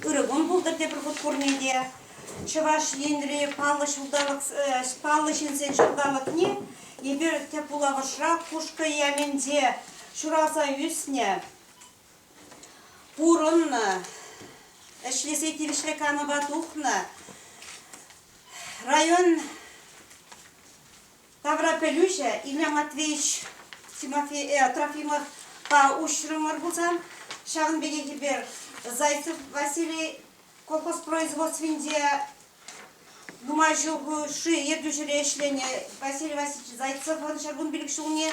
Ырӑ кун пултӑр тепӗр хут пурне те. Чӑваш Енри паллӑ ҫулталӑк, паллӑ ҫынсен ҫулталӑкне эпир тӗп вулавӑшра Кушкӑ Яменте ҫуралса ӳснӗ, пурӑннӑ, ӗҫлесе тивӗҫлӗ канӑва тухнӑ. Район тавра пӗлӳҫӗ Илья Матвеевич Тимофей, э, Трофимовпа уҫрӑмӑр пулсан, ҫавӑн пекех эпир Зайцев Василий колхозпроизводствинче нумай ҫул-ши ертӳҫӗре ӗҫленӗ Василий Васильевич Зайцевӑн ҫуркун пилӗк ҫулне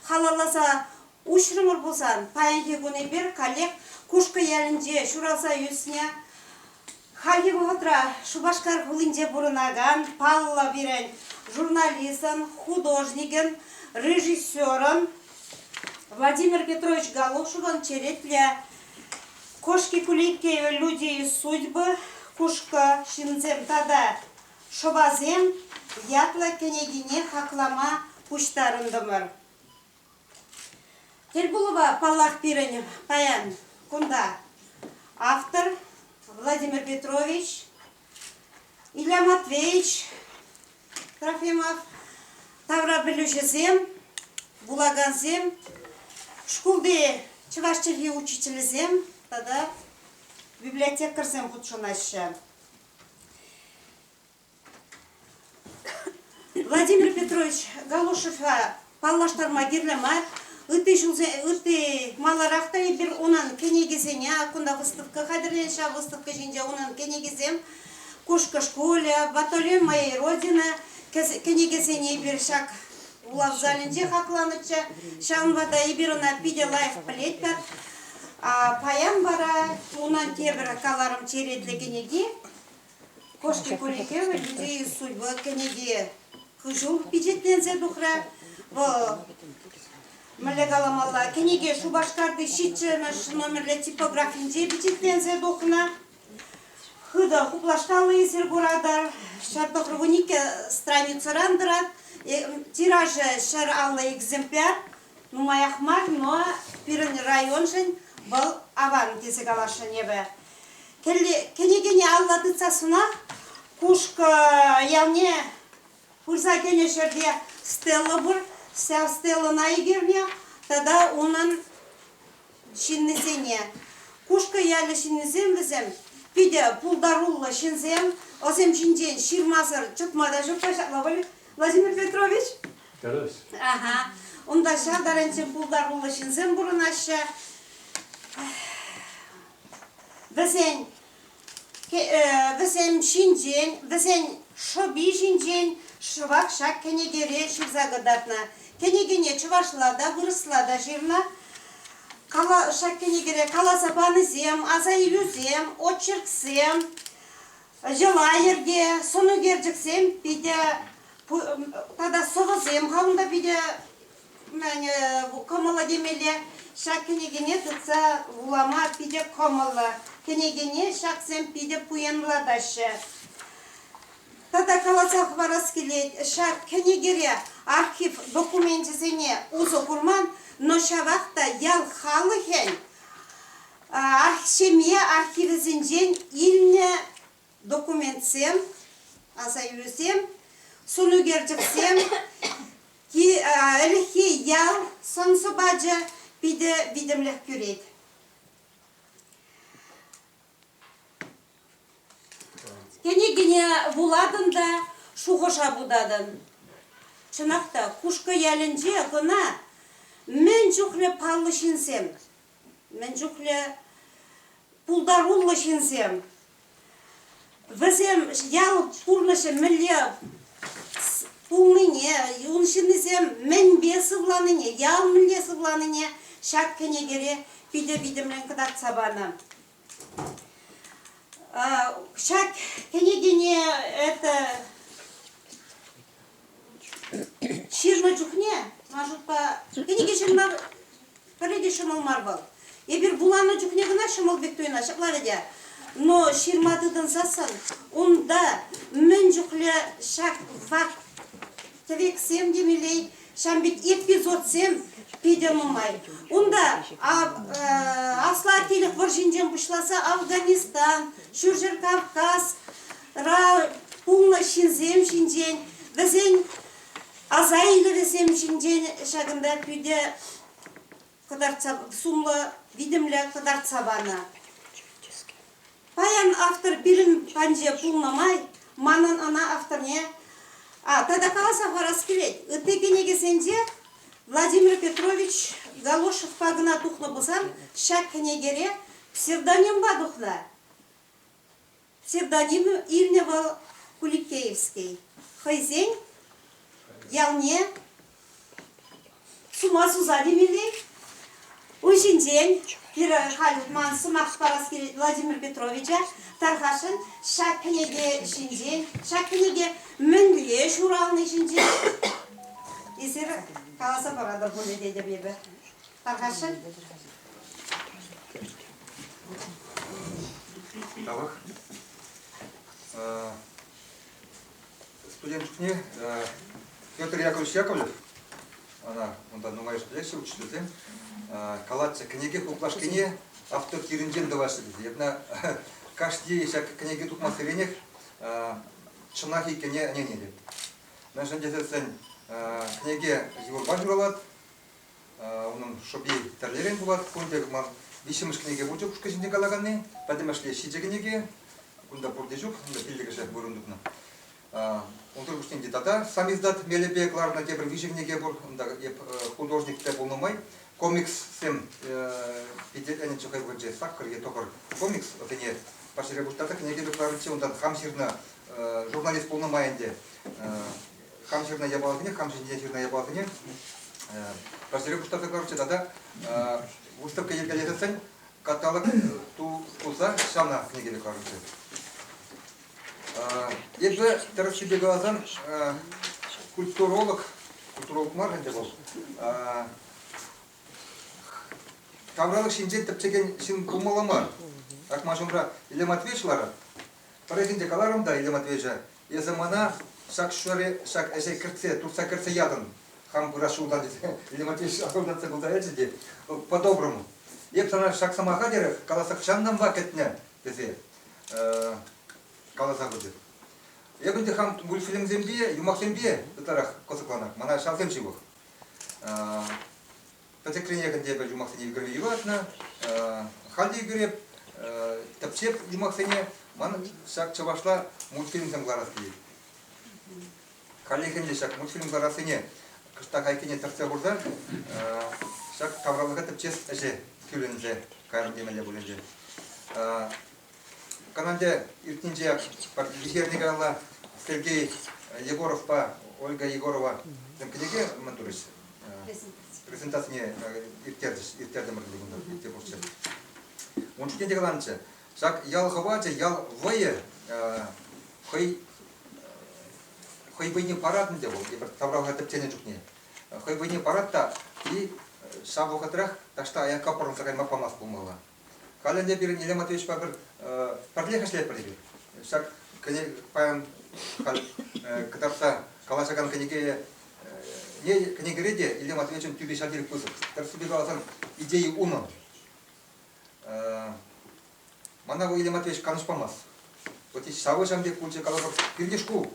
халалласа Уҫрӑмӑр пулсан, паянхи кун эпир каллех Кушкӑ ялӗнче ҫуралса ӳснӗ, хальхи вӑхӑтра Шупашкар хулинче пурӑнакан паллӑ пирӗн журналистӑн, художникӗн, режиссерӑн Владимир Петрович Галушевӑн черетлӗ Кошки Куликеевы люди и судьбы, Кушкӑ ҫынсем тата шӑпасем ятлӑ кӗнекине хаклама пуҫтарӑнтӑмӑр. Тырпулӑва, паллах, пирӗн паян кунта автор Владимир Петрович, Илья Матвеевич Трофимов, таврапӗлӳҫӗсем, вулакансем, шкулти чӑваш чӗлхи учителӗсем тата библиотекарьсем хутшӑнаҫҫӗ. Владимир Петрович Галушевпа паллаштарма кирлӗ мар. Ытти ҫулсен, ытти маларах та эпир унӑн кӗнекисене, кунта выставка хатӗрленет, ҫав выставка ҫинче унӑн кӗнекисем, Кушкӑ шкулӗ, Батальон моей Родины кӗнекесене эпир ҫак вулав залӗнче хакланӑччӗ. Ҫавӑнпа та эпир ӑна питӗ лайӑх пӗлетпӗр. Паян вара унӑн тепӗр каларӑм черетлӗ кӗнеки Кошки Курикевӗн Идеи судьбы кӗнеке хыҫум пичетленсе тухрӗ. Вӑл, мӗнле каламалла, кӗнеке Шупашкарти ҫиччӗмӗш номерлӗ типографинче пичетленсе тухнӑ. Хытӑ хуплаштарнисӗр куратӑр. Ҫӗр тӑхӑрвун икӗ страницӑран тӑрать. Тиражӗ ҫӗр аллӑ экземпляр. Нумаях мар, но пирӗн районшӑн вӑл аван тесе каласшӑн эпӗ. кӗнекене алла тытса сунах Кушкӑ ялне пырса кӗнӗ ҫӗрте стела пур. Ҫав стелӑна ӗгерне тата унӑн ҫыннисене. Кушкӑ ялӗ ҫыннисем вӗсем питӗ пултаруллӑ ҫынсем. Ӑсем ҫинчен ҫырмасӑр чӑтма та ҫук-ха ҫапла пуль, Владимир Петрович? Тӗрӗс. Ага. Унта ҫав таранччен пултаруллӑ ҫынсем пурӑнаҫҫӗ. вӗсен вӗсем ҫинчен, вӗсен шӑпи ҫинчен шӑвак ҫак кӗнекере ҫырса кӑтартнӑ. Кӗнекене чӑвашла та, вырӑсла та ҫырнӑ. Кала, ҫак кӗнекере каласа панисем, аса илӳсем, очерксем, йӑла-йӗрке, сӑнӳкерчӗксем питӗ тата сӑвӑсем хам та питӗ Кӑмӑллӑ темелле, ҫак кӗнекене тытса вулама питӗ кӑмӑллӑ. Кӗнекене ҫаксем питӗ пуянлатаҫҫӗ. Тата каласа хӑварас килет, ҫак кӗнекере архив докуменчӗсене усӑ курман, но ҫавах та ял халӑхӗн ҫемье архивӗсенчен илнӗ документсем, асаилӳсем, сӑнӳкерчӗксем, ӗлӗкхи ял сӑн-сӑпачӗ питӗ витӗмлӗх кӳрет. Кӗнекене вулатӑн та шухӑша путатӑн. Чӑнах та, Хушкӑ ялӗнче кӑна мӗн чухлӗ паллӑ ҫынсем мӗн чухлӗ пултаруллӑ ҫынсем. Вӗсем ял пурнӑҫӗ мӗнле пулнине, ун ҫыннисем мӗнпе сывланине, ял мӗнле сывланине ҫак кӗнекере питӗ витӗмлӗн кӑтартса панӑ. Ҫак кӗнекене это ҫырнӑ чухне, ман шутпа, кӗнеке ҫырма пӗрре те ҫӑмӑл мар вӑл. Эпир вуланӑ чухне кӑна ҫӑмӑл пек туйӑна ҫакларӗ те. Но ҫырма тытӑнсассӑн унта мӗн чухлӗ ҫак факт Тӗвексем те милей. Ҫав пек эпизодсем питӗ нумай. Унта аслатилӗх вӑрҫинчен пуҫласа Афганистан, Ҫурҫӗр Кавказ ра пулнӑ ҫынсем ҫинчен, вӗсен аса илӗвӗсем ҫинчен ҫакӑнта питӗ кӑтартса сумлӑ витӗмлӗ кӑтартса панӑ. Паян автор пирӗн панче пулнӑ май манӑн ӑна авторне а, тата каласа парас килет. Ытти кӗнекесенче Владимир Петрович Галошевпа кӑна тухнӑ пулсан ҫак кӗнекере псевдонимпа тухнӑ. Псевдоним илнӗ вӑл Куликеевский. Хӑйсен ялне сума суса темелле. Ун ҫинчен пирӗн халь ман сӑмах парас килет Владимир Петровича тархасшӑн. Ҫак кӗнеке ҫинчен, ҫак кӗнеке мӗнле ҫурални ҫинчен эсир каласа паратӑр пулӗ тетӗп эпӗ. Тархасшӑн? Тавах. Студент чухне Петр Яковлевич Яковлев, она унта нумайӑш пӗлеҫҫӗ учительсем, калатчӗ, кӗнеке хуплашкине автор тирӗнчен тӑваҫҫӗ тесе. Эпна кашни ҫак кӗнеке тупмассеренех чӑнах иккенне ӗненетӗп. Мӗншӗн тесен кӗнеке юрпа ҫуралать, Унӑн шӑпи тӗрлӗрен пулать. Пурте ман виҫҫӗмӗш кӗнеке пулчӗ ушкӑн ҫинче калаканни. Пӗтӗмӗшле ҫичӗ кӗнеке. Кунта пурте ҫук, кунта пиллӗкӗшӗ вырӑн тупнӑ. Унсӑр пуҫне те тата сам издат мелӗпе кӑларнӑ тепӗр виҫӗ кӗнеке пур. Унта эп художник та пулнӑ май комикссем питӗ ӗнӗччӗ хӑй вырӑнче саккӑр е тӑхӑр комикс ӑсене паҫӑрхи пуҫта та кӗнеке кӑларнӑччӗ. Унтан хам ҫырнӑ журналист пулнӑ май ӗнтӗ хам ҫырнӑ япаласене, хам ҫинчен ҫырнӑ япаласене пӗрсере пуҫтарса кӑларчӗ тата выставка йӗркелесен каталог ту пулса ҫавна кӗнекере кӑларчӗ. Эпӗ тӗрӗссипе каласан культуролог, культуролог мар ӗнтӗ вӑл, тавралӑх ҫинчен тӗпчекен ҫын пулмалла мар. Ак ман ҫумра Илле Матвеевич ларать, Пӗррехинче каларӑм та илем отвечӗ, эсӗ мана ҫак ҫӗре, ҫак ӗҫе кӗртсе, туртса кӗртсе ятӑн. Хам пырас ҫултан тесе илем отвечӗ асӑлтатса кулса ячӗ те по-доброму. Эп сана ҫак сӑмаха терех каласа хӑҫантанпа кӗтнӗ тесе каласа пычӗ. Эп ӗнтӗ хам мультфильмсемпе, юмахсемпе ытларах кӑсӑкланах, мана ҫавсем ҫывӑх. пӗчӗкренех ӗнтӗ эпӗ юмахсене ӳкерме юратнӑ. Халь те ӳкереп, тӗпчеп юмахсене. Ман ҫак чӑвашла мультфильмсем кӑларас килет. Халлӗхен те ҫак мультфильм кӑларассине кӑштах айккине тӗртсе хурсан ҫак тавралӑха тӗпчес ӗҫе кӳлӗнсе кайрӑм темелле пуль ӗнтӗ. Каналӗ иртнинче вихерне каялла Сергей Егоровпа Ольга Егорова кӗнеке мӑнтурӗҫ. Презентацине ирттертӗмӗр ӗнтӗ кунта иртсе пурччӗ. Ун чухне те каланчӗ, ҫак ял хӑвачӗ, ял вӑйӗ хӑй хӑй вӑйне парать ӗнтӗ вӑл эпир тавралӑха тӗпченӗ чухне. Хӑй вӑйне парать та и ҫав вӑхӑтрах таҫта аякка пӑрӑнса кайма памасть пулмалла. Халь ӗнтӗ пирӗн Елена Матвеевичпа пӗр, пӗрлех ӗҫлетпӗр эпир. Ҫак кӗнек паян халь кӑтартса калаҫакан кӗнеке не кӗнекере те Илья Матвеевичӑн тӳпи ҫав тери пысӑк. Тӗрӗссипе каласан, идеи унӑ. Мана ку Илья Матвеевич канӑҫ памасть. Вот здесь ҫавӑҫан пек пулчӗ каласах пирӗн шкул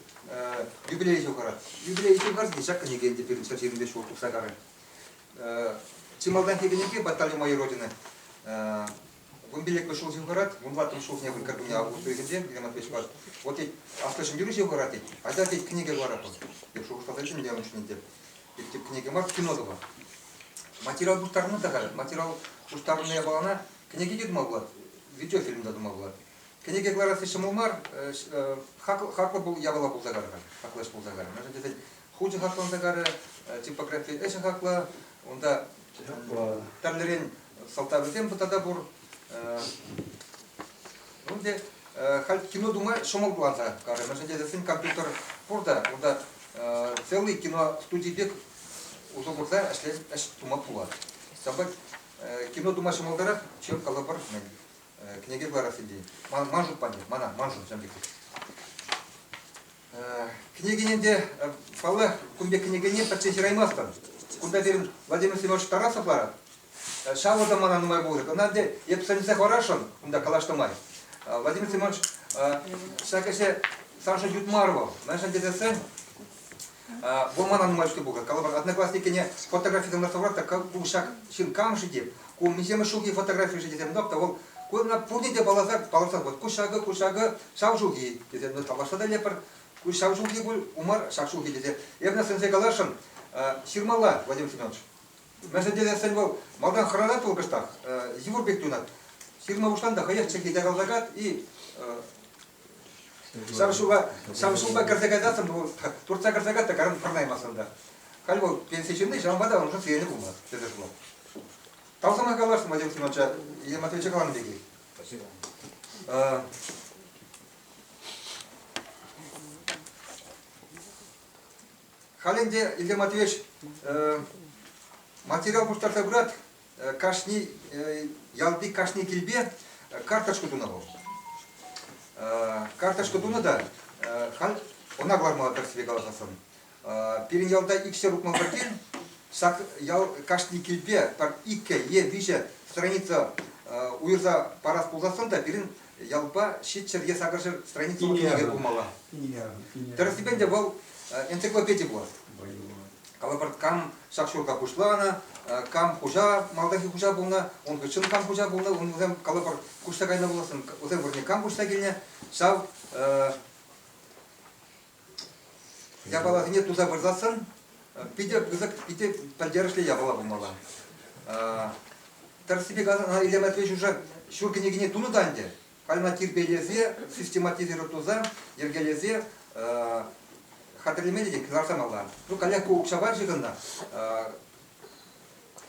юбилей ҫухӑрать. Юбилей ҫухӑрас ҫак кӗнеке ӗнтӗ пирӗн ҫӗр ҫырнипе ҫул тухса карӗ. Чи малтан текенӗпе батальон майор родины вымпеллекпе ҫул ҫывхарать, хӑрать, вунлаттӑн ҫулсене выркар кунне август уйӑхӗнче, Геннадий Пешпар. Вот тет, авто ҫӗнтерӳҫи хӑрать тет, а та тет книга варатӑп, деп шухӑшласа чӗнчӗ ӑнӑҫ ҫӗнетӗп. Тет тӗп книга мар, кино тӑва. Материал пуҫтарнӑ та халь, материал пуҫтарнӑ япалана кӗнеке те тума пулать, видеофильм та тума пулать. Кӗнеке кӑларасси ҫӑмӑл мар, хаклӑ пул, япала пулса кар халь, хаклӑ ӗҫ пулса кар. Мӗншӗн тесен хучӗ хакланса карӗ, типографи ӗҫӗ хаклӑ. Унта тӗрлӗрен сӑлтавӗсем тата пур. Ну, те халь кино тума ҫӑмӑлланса карӗ. Мӗншӗн тесен компьютер пур та, унта целый кино студий пек усӑ курса ӗҫлес ӗҫ тума пулать. Ҫапах кино тума ҫӑмӑлтарах чем калӑпӑр, мӗн, кӗнеке кӑларас идея. Ман шут пане, мана, ман шут, ҫавӑн пек. Кӗнекене те, паллах, кун пек кӗнекене пӗртсе ҫыраймастӑн. Кунта пирӗн Владимир Семенович Тарасовлар ҫавӑ та мана нумай пулать. Ӑна те эп сӗнсе хӑварасшӑн кунта калаҫнӑ май. Владимир Семенович, ҫак ӗҫе саншӑн ют мар вӑл. Мӗншӗн тесен вӑл мана нумай чухне пухать. Калӑпӑр, одноклассникене фотографи тытӑнса хӑварать та ку ҫак ҫын кам-ши те, ку миҫемӗш ҫулхи фотографи-ши тесен тӑп та вӑл ку ӑна пурте те палласа палласа пӑхать. Ку ҫакӑ, ку ҫакӑ, ҫав ҫулхи, тесе тавлашса та илетпӗр. Ҫав ҫулхи пуль, умар, ҫак ҫулхи тесе. Эпӗ сӗнсе каласшӑн, ҫырмалла, Владимир Семенович. Мӗншӗн тесен вӑл малтан хӑранать вӑл кӑштах, йывӑр пек юнать. Ҫырма пуҫлан та хӑех чӗлхи якалса кать и ҫав ҫула ҫав ҫулпа кӗрсе кайсассӑн вӑл туртса кӗрсе кать та каран пӑрнаймасӑн та. Халь вӑл пенси ҫынни, ҫавӑнпа та уншӑн сиенлӗ пулмасть, тесе шутлать. Тав сӑмах каласшӑн, Владимир Семеновича, Елена Матвеевича каланӑ пекех. Спасибо. А, Халь ӗнтӗ, Илья Матвеевич, э, материал пуҫтарса пырат, э, кашни, э, ялти кашни килпе э, карточку тунӑ вӑл. Э, карточку тунӑ та, э, халь ӑна кӑлармалла тӗрӗссипе каласан. Пирӗн ялта иксӗр утман пӗртен ҫак ял кашни килпе пӗр иккӗ е виҫӗ страница уйӑрса парас пулсассӑн та пирӗн ялпа ҫиччӗр е сакӑрҫӗр страница кинӗве пулмалла. Тӗрӗссипе ӗнтӗ вӑл энциклопеди пулас. Калӑпӑр, кам ҫак ҫурта пуҫланӑ, кам хуҫа, малтанхи хуҫа пулнӑ, ун хыҫҫӑн кам хуҫа пулнӑ, ун вӗсем калӑпӑр куҫса кайнӑ пуласӑн, вӗсем вырӑнне кам куҫса килнӗ, ҫав Япаласене туса выртассӑн питӗ пысӑк, питӗ пӗлтерӗшлӗ япала пулмалла. Тӗрӗссипе каласан, ӑна Илья Матвеевич уже ҫур кӗнекене тунӑ та ӗнтӗ. Халь ӑна тирпейлесе, систематизировать туса, йӗркелесе хатӗрлеме те кӑларса малла. Ну, каллех ку укҫа мар ҫыхӑннӑ.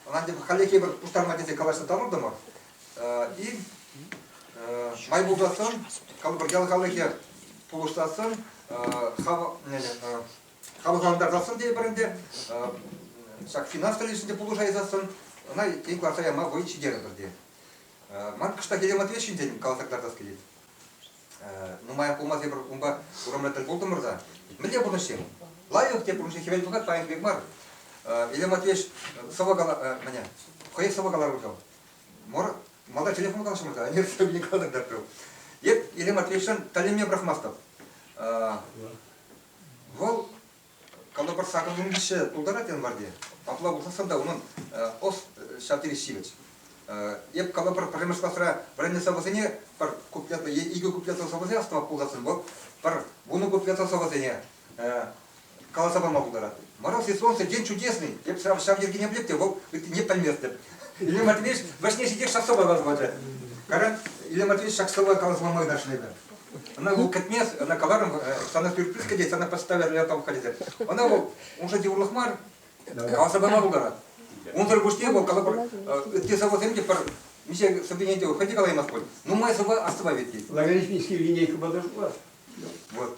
Ӑна хальлӗхе пӗр пуҫтарма тесе калаҫса тӑрӑттӑмӑр. И май пулсассӑн, калӑпӑр ял халӑхӗ пулӑшсассӑн, хавхалантарсассӑн тейӗпӗр ӗнтӗ, ҫак финанс тӗлӗшӗнче пулӑшайсассӑн, ӑна тен кӑларса яма вӑй ҫитерӗпӗр те. Ман кӑштаххине Матвей ҫинчен каласа кӑтартас килет. нумаях пулмасть эпир унпа урамра тӗл пултӑмӑр-ха. Мӗнле пурнӑҫ-им? Лайӑх те пурнӑҫӗ хӗвел пӑхать паян пек мар. Илья Матвеевич сӑвӑ кала, мӗне, хӑех сӑвӑ каларӑм ҫав. Мор, малта телефон калаҫрӑмӑр-ха, университетне калатӑп тапрӑм. Эп Илья Матвеевичшӑн тӗлӗнме пӑрахмастӑп. Вӑл Кӑнӑпӑр сакӑр нимӗҫҫе пултарать январьте. Апла пулсассӑн та унӑн ӑс ҫав тери ҫивӗч. Эп калӑпӑр, пӗрремӗш класра вӗреннӗ сӑвӑсене пӗр куплета е икӗ куплета сӑвӑсене астӑвап пулсассӑн вӑл пӗр вунӑ куплета сӑвӑсене каласа пама пултарать. Мороз и солнце день чудесный. Эп ҫав ҫав йӗркене пӗлеп те, вӑл ыттине пӗлместӗп. Илья Матвеевич вӗҫне ҫитех ҫак сӑвӑ каласа пачӗ. Кара, Илья Матвеевич ҫак сӑвӑ каласа пама ырашнӑ эпӗ. Ӑна вӑл кӗтмес, ӑна каларӑм, сана сюрприз кӗтет, сана поставят яратам халӗсем. Ӑна вӑл унша йывӑрлӑх мар, каласа пама пултарать. Унсӑр пуҫне вӑл калӑпӑр, ытти сӑвӑсем те пӗр миҫе сӑввине те хӑй те калаймасть пуль. Нумай сӑвва астӑвать иккен. Лаврентьевский линейка подошла. Вот.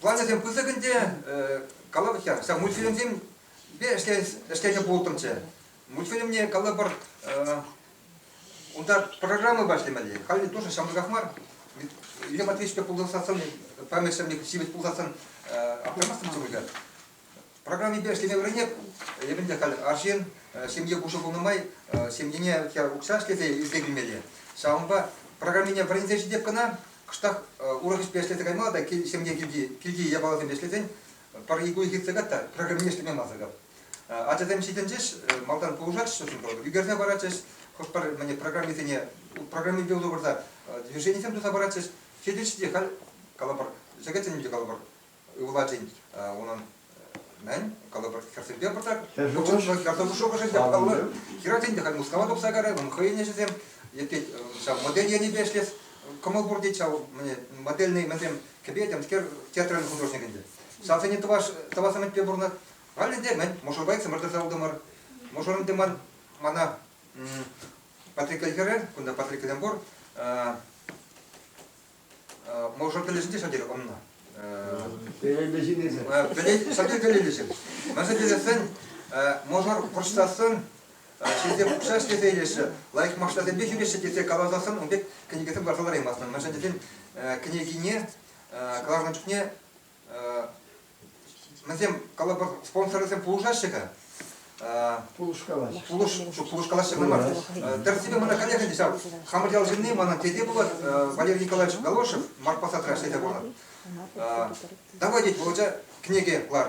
Плансем пысӑк ӗнтӗ, калӑпӑр хӗр, ҫак мультфильмсемпе ӗҫлесе пултӑмччӗ. Мультфильмне калӑпӑр, унта программӑпа ӗҫлемелле. Халӗ тоже ҫамрӑках мар. Илья Матвеевичпе пулсассӑн, пӗрмӗш ҫемье ҫивӗч пулсассӑн, аптрамастӑмччӗ пуль Программипе ӗҫлеме вӗренет. Эпӗн те халь арҫын, ҫемье пушӑ пулнӑ май семьене укҫа ӗҫлесе ӳссе килмелле. Ҫавӑнпа программине вӗренсе ҫитеп кӑна, кӑштах урӑх ӗҫпе ӗҫлесе каймалла та ҫемье килти, килти япаласемпе ӗҫлесен пӗр ик уйӑх иртсе кать та программине ӗҫлеме мансӑр кап. Ачасем ҫитӗнчӗҫ, малтан пулӑшаҫҫӗ, ӳкерсе паратчӗҫ, хӑш пӗр мӗне программисене программипе усӑ курса движенисем туса паратчӗҫ. Ҫитӗнчӗ те халь калӑпӑр, чӗкӗтсем те калӑпӑр, ывӑлатин унӑн мӗн калӑпӑр хӗрсемпе пырса хӗрсем шухӑшӗ те паллӑ хӗрачин те халь Мускава тухса кайрӗ ун хӑйӗн ӗҫӗсем йӗпет ҫав модель енӗпе ӗҫлес кӑмӑл пур тет ҫав мне модельный мӗнсем кӗпе-темскер театрӑн художник ӗнтӗ ҫавсене тӑваш тӑвас ӗмӗтпе пурӑнать халӗ те мӗн мӑшӑрпа иксӗмӗр тӑрса утӑмӑр мӑшӑрӑм те мар мана Патрикка хӗрӗ кунта Патриккӑсем пур Мӑшӑр тӗлӗшӗнче ҫав тери ӑннӑ. Телейлӗ ҫын эсӗ. Телей, ҫав тери телейлӗ ҫын. Мӗншӗн тесен мӑшӑр пӑрҫтассӑн ҫынсем укҫа ӗҫлесе илеҫҫӗ, лайӑх машинасемпе ҫӳреҫҫӗ тесе каласассӑн ун пек кӗнекесем кӑларса лараймастӑн. Мӗншӗн тесен кӗнекине кӑларнӑ чухне Вӗсем калӑпӑр спонсорсем пулӑшаҫҫӗ-ка? Пулӑшкалаҫҫӗ. Пулӑшкалаҫҫӗ кӑна мар. Тӗрӗссипе мана халех ӗнтӗ ҫав хамӑр ял ҫынни, мана тете пулать, Валерий Николаевич Галошев, Марк посадра ӗҫлетӗ пулнӑ. Давай, тет, Володя, кӗнеке кӑлар.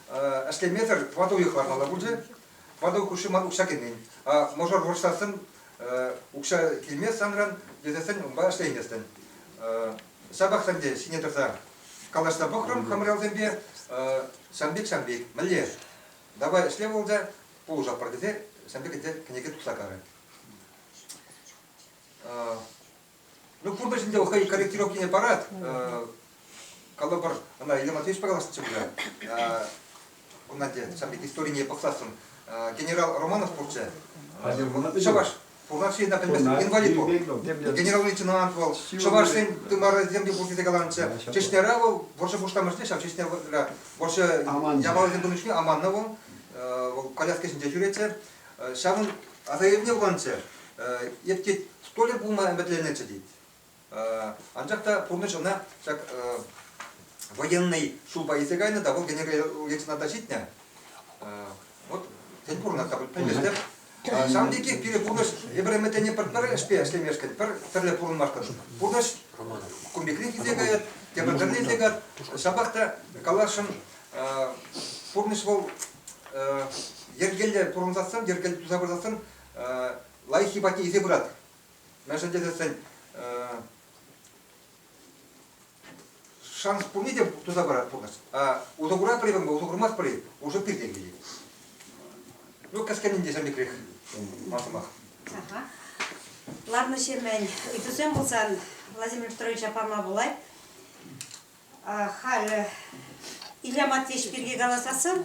ӗҫлемесӗр тӑватӑ уйӑх лартмалла пулчӗ. Тӑватӑ хушши ман укҫа кӗмен. Мӑшӑр вӑрҫсассӑн укҫа килмест санран, тесессӗн унпа ӗҫлейместӗн. Ҫапах ӗнтӗ ҫине тӑрса калаҫса пӑхрӑм хӑмралсемпе ҫам пек ҫам пек мӗнле давай ӗҫле вӑлса пулӑшатпӑр тесе ҫам пек ӗнтӗ кӗнеке тупса карӗ. Ну, куртӑ ҫинче вӑл хӑй корректировка ене парать. Калӑпӑр, ӑна Елена Матвеевичпа калаҫнӑччӗ пулӗ. Кунна те ҫав пек историне пӑхсассӑн генерал Романов пурччӗ. Чӑваш Пурнаш енна пӗлместӗн инвалид вӑл. Генерал-лейтенант вӑл. Чӑвашсен тымарӗсем те пур тесе каланӑччӗ. Чечняра вӑл вӑрҫӑ пуҫламӑшне ҫав Чечняра вӑрҫӑ явалӗсем пынӑ чухне аманнӑ вӑл. Вӑл коляска ҫинче ҫӳретчӗ. Ҫавӑн аса илӗвне вуланчӗ. Эпти столӗ пулма ӗмӗтленнӗччӗ тет. Анчах та пурнӑҫ ӑна ҫак военнӑй ҫулпа илсе кайнӑ та вӑл генерал-лейтенанта ҫитнӗ. Вот тен пурӑнать-ха пӗлместӗп. Ҫавӑн пекех пире пурнӑҫ эпир ӗмӗтленни пӗр ӗҫпе ӗҫлемешкӗн, пӗр тӗрлӗ пурӑнмашкӑн пурнӑҫ кун пекрех илсе каять, тепӗр тӗрлӗ илсе каять. Ҫапах та каласшӑн, Пурнӑҫ вӑл йӗркелле пурӑнсассӑн, йӗркелле туса пырсассӑн лайӑххи патне илсе пыратӑр. Мӗншӗн тесен шанс пурне те туса парать пурнӑҫ. Усӑ куратпӑр-и усӑ курмастпӑр-и уже пиртен килет. Ну, кӗскенӗн те ҫӗнӗкрех ман сӑмах. Ларнӑ-ҫемӗн ыйтусем пулсан Владимир Петровича пама пулать. Халӗ Илья Матвеевич пирки каласассӑн,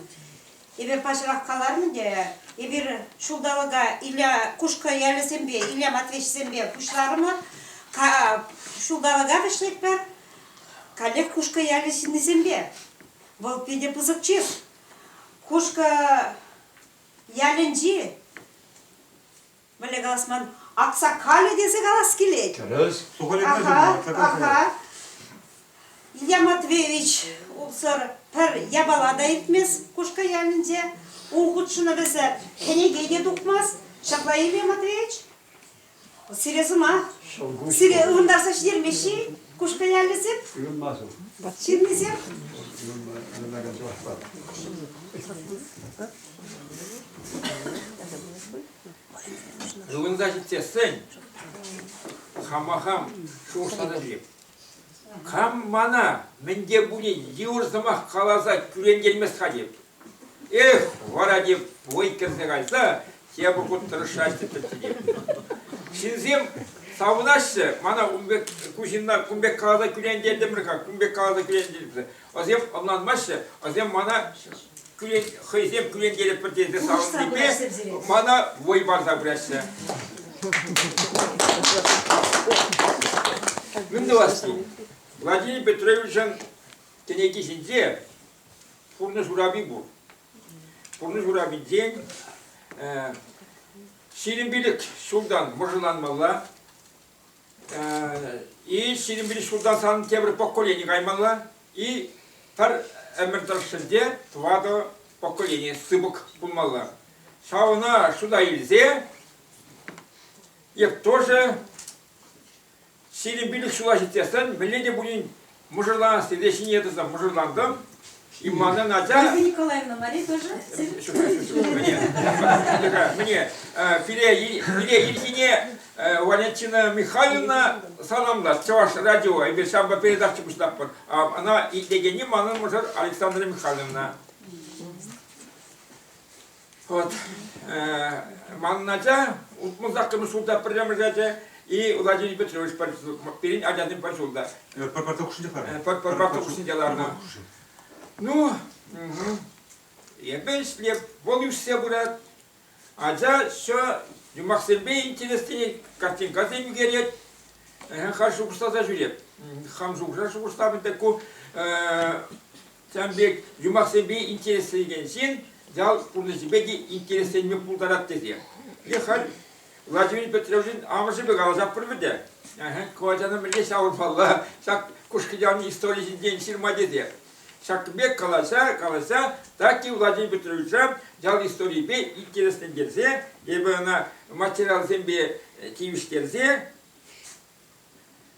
эпир паҫӑрах каларӑм те, эпир ҫулталӑка Илья Кушкӑ ялӗсемпе, Илья Матвеевичсемпе пуҫларӑмӑр. Ҫулталӑка вӗҫлетпӗр каллех Кушкӑ ялӗ ҫыннисемпе. Вӑл питӗ пысӑк чыс. Кушкӑ ялӗнчи Мӗнле калас ман аксакалӗ тесе калас килет. Тӗрӗс. Аха. Илья Матвеевич улсӑр пӗр япала та иртмест Кушкӑ ялӗнче. Ун хутшӑнӑвӗсӗр кӗнеке те тухмасть. Ҫапла, Илья Матвеевич? Сире сӑмах. Сире ывӑнтарса ҫитермеҫҫ-и Кушкӑ ялӗсем? Ҫыннисем? Ывӑнса ҫитсессӗн хама хам шухӑшланӑ Кам мана мӗн те пулин йывӑр сӑмах каласа кӳрентермест-ха теп. Эх, вара теп вӑй кӗрсе кайса тепӗр хут тӑрӑшаҫҫӗ тетте теп. Ҫынсем савӑнаҫҫӗ, мана ун пек ку ҫынна кун пек каласа кӳрентертӗмӗр-ха, кун пек каласа кӳрентертӗмӗр. Васем ӑнланмаҫҫӗ, васем мана кӳрен, хӑйсем кӳрентерӗпӗр тенсе савӑннипе мана вӑй парса пыраҫҫӗ. Мӗн тӑвасси? Владимир Петровичӑн кӗнеки ҫинче пурнӑҫ урапи пур. Пурнӑҫ урапинчен ҫирӗм пилӗк ҫултан мӑшӑрланмалла, И ҫирӗм пилеш ҫултан сан тепӗр поколени каймалла, и пӗр ӗмӗр тӑршшӗнче тӑватӑ поколени сыпӑк пулмалла. Ҫавна шута илсе эп тоже ҫирӗм пилӗк ҫула ҫитсессӗн мӗнле те пулин Мӑшӑрланас тесе ҫине тӑса мӑшӑрлантӑм. И манӑн ача... Мария Николаевна, Мари тоже? Мне пире ирхине Валентина Михайловна саламлас Чӑваш радио эпир ҫавӑнпа передача пуҫлатпӑр. Она итлекенни манӑн мӑшӑр Александра Михайловна. Вот, манӑн ача утмӑл саккӑрмӗш ҫулта пӗрремӗш ача и Владимир Петрович пирӗн ачасем пӗр ҫулта. Пӑрпарта хушшинче ларнӑ. Пӑрпарта хушшинче ларнӑ. Ну, эпӗ ӗҫлеп, вӑл ӳссе пырать. Ача еще юмахсемпе интереслӗ картинкасем ӳкерет. Хай шухӑшласа ҫӳреп. Хам шухӑша шухӑшлам пек ку Ҫавӑн пек юмахсемпе интересленекен ҫын ял пурнӑҫӗпе те интересленме пултарать тесе. Е халь Владимир Петровичӑн амӑшӗпе каласа пар вӗтӗ. Ку ачана мӗнле ҫавӑрмалла, ҫак Кушкӑ историйӗ ҫинчен ҫырма тесе. Ҫак пек каласа, каласа Тати Владимир Петровича ял историйӗпе интереслентерсе, эпӗ ӑна материалсемпе тивӗҫтерсе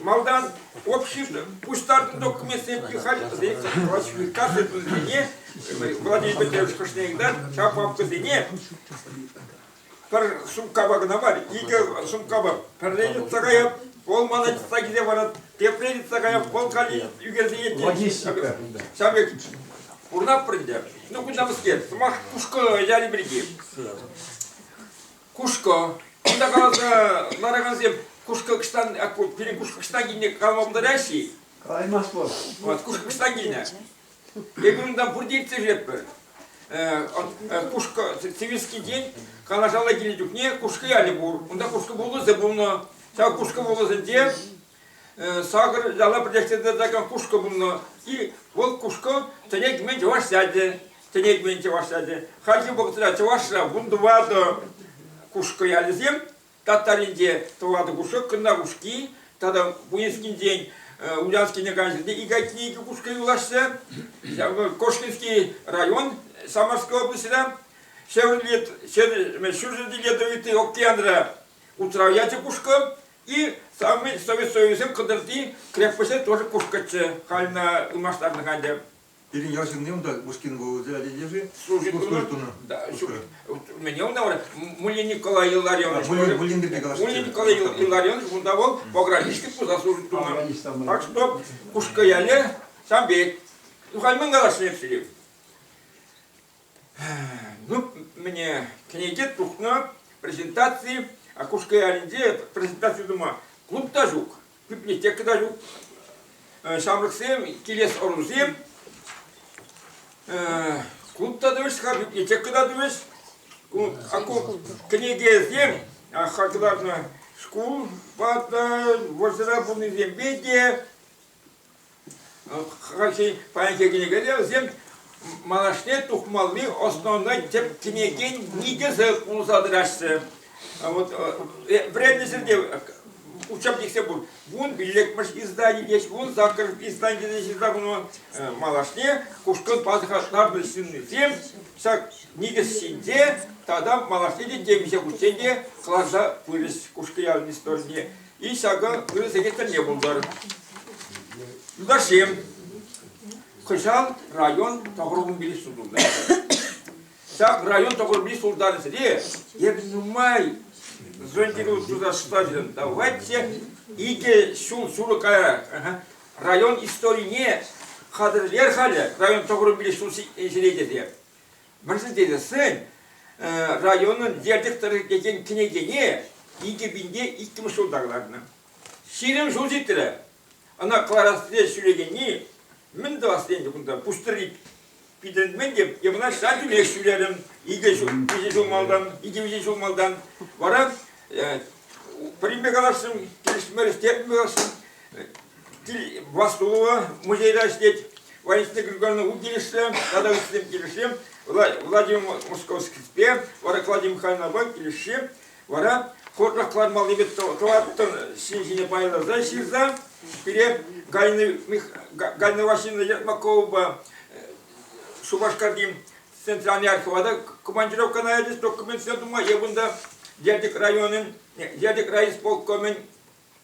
Малтан общество пуҫтартнӑ документсемпе хатӗрсен кассӑсене Владимир Петрович Кушнеевдан ҫав папкӑсене пӗр сумкапа кӑна мар, икӗ сумкапа пӗрле йӑтса каять, вӑл мана йӑтса киле барат, тепре йӑтса каять, вӑл калли ӳкерсе йӗтет. Ҫав пек пурнатпӑр ӗнтӗ. Ну, кунта мӗскер, сӑмах кушкӑ яри пирки. Кушкӑ. Кунта каласа ларакансем кушкӑ кӑштан, пирӗн кушкӑ кӑштан килне калама пултараҫҫӗ-и? Калаймас вӑл. Вот, кушкӑ кӑштан килнӗ. Эпир унтан пурте ирттеретпӗр. Кушкӑ Сивинскинчен Канашалла килнӗ чухне Кушкӑ ялӗ пур. Унта кушкӑ вулӑсӗ пулнӑ. Ҫав кушкӑ вулӑсӗнче Сакӑр яла пӗрлештерсе тӑракан кушкӑ пулнӑ. И вӑл кушкӑ тӗне кӗмен чӑваш ячӗ. Тӗне кӗмен чӑваш ячӗ. Хальхи вӑхӑтра чӑвашра вун тӑватӑ кушкӑ ялӗсем. Татаринче тӑватӑ кушкӑ, Кӑннарушки тата Пуйӑскинчен Ульянскине кайнӑ икӗ айккине икӗ кушкӑ юлаҫҫӗ. Кошкинский район Самарская облаҫра. Ҫӗр Лет, ҫӗр, ҫурҫӗр Ледовитый океанра утрав ячӗ кушкӑ. И самый Совет Союзӗн Кӑтӑрти крепоҫӗ тоже кушкӑччӗ. Хальна ылмаштарнӑ ӗнтӗ. Пирӗн ял ҫынни унта Пушкин вулӑсӗ ача-чӗчӗ служить тунӑ. Мӗне унта вара Муллин Николай Илларионович Муллин пирки калаҫҫӗ. Муллин Николай Илларионович унта вӑл пограничник пулса служить тунӑ. Так что Кушкӑ ялӗ Самбет. Юхальман калаҫнӑ эпсине. Ну, мне кӗнеке тухнӑ презентации «Окушка и Оренде» презентаци тума клуб та ҫук, библиотека та ҫук, ҫамрӑксем, килес ӑрусем, клуб та тӑвӗҫ-ха, библиотека та тӑвӗҫ. Кӗнекесем хакӑланӑ шкулпа та, вӑрҫӑра пулнисемпе те Хальхи паянхи кӗнекере вӗсем малашне тухмалли основна тӗп кӗнекен никӗсӗ пулса тӑраҫҫӗ. Вот времесӗр те учебник диксе пур. Вун пиллӗкмӗш издание есть, вун саккӑрмӗш издание есть ҫырса хунӑ малашне кушкӑн пасӑхатнарнӑ ҫыннисем ҫак никӗс ҫинче тата малашне те темиҫе хутчен те кӑларса пырӗҫ Кушкӑ ялӗн историне. И ҫакӑ ырӑ сехет тӗлне пултӑр. Юлташсем, кӑҫал район тӑхӑрвунпилӗк ҫул тунӑ. Ҫак район тӑхӑрвунпилӗк ҫултарӗсене эпӗ нумай жильдере тусашса давайте икӗ ҫул ҫурӑ кая район историне хатӗрлер халӗ район тӑхӑрвунпилӗк ҫул ҫине тесе. Вӗрентекенсен районӑн ертӳ тӑрӑхӗнчен кӗнекене икӗ пинпе иккӗмӗш ҫулта кӑларнӑ. Ҫирӗм ҫул ҫитрӗ. Ӑна кӑларассине ҫӳрекенни мӗн тӑвасси ӗнтӗ кунта пуҫ тӑри питӗрмен те я мана ҫав тӳрех ҫӳрерӗм икӗ ҫул виҫӗ ҫул малтан икӗ-виҫӗ ҫул малтан вара пӗринпе каласшӑн килӗшмерӗҫ терӗм каласшӑн Власлова музейра ӗҫлет, Валентина Григорьевна Укилешре тата ыттисем килӗшре, Владимир Московскийпе, вара Клавдия Михайловнапа килӗшре, вара хорна кӑлармаллипе тӑваттӑн ҫине пайласа ҫырса, пире Галина Васильевна Ермаковӑпа Шупашкарти центральный архивада командировка наядец документсем тума, я бунда Дердик районӗн, Дердик райисполкомӗн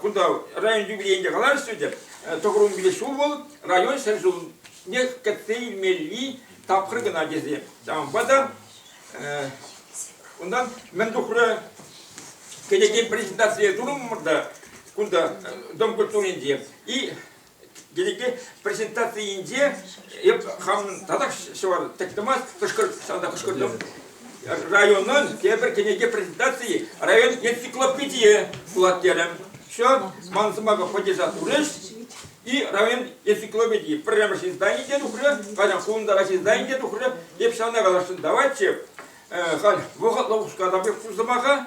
кунта район юбилейінде калаҫрӗ те тӑхӑрун киле ҫул вӑл район ҫӗр ҫулне кӗтсе илмелли тапхӑр кӑна тесе ҫавӑнпа та унтан мӗн тухрӗ кӗнеке презентацие турӑмӑр та кунта дом культуринче и Дедекти презентацийӗнче эп хамӑн татах ҫӑвар тӗттӗмас Кӑшкӑрт, санта Кӑшкӑртым районӑн тепӗр кӗнеке презентацийӗ район энциклопедийӗ пулат терӗм. Все, ман сӑмаха поддержа турӗҫ. И район энциклопедии пӗрремӗш издание те тухрӗ, кайдан фундара издание те тухрӗ. Эп ҫавна каласшӑн даватчӗ. Халь вӑхӑтлӑ ускатап пур сӑмаха.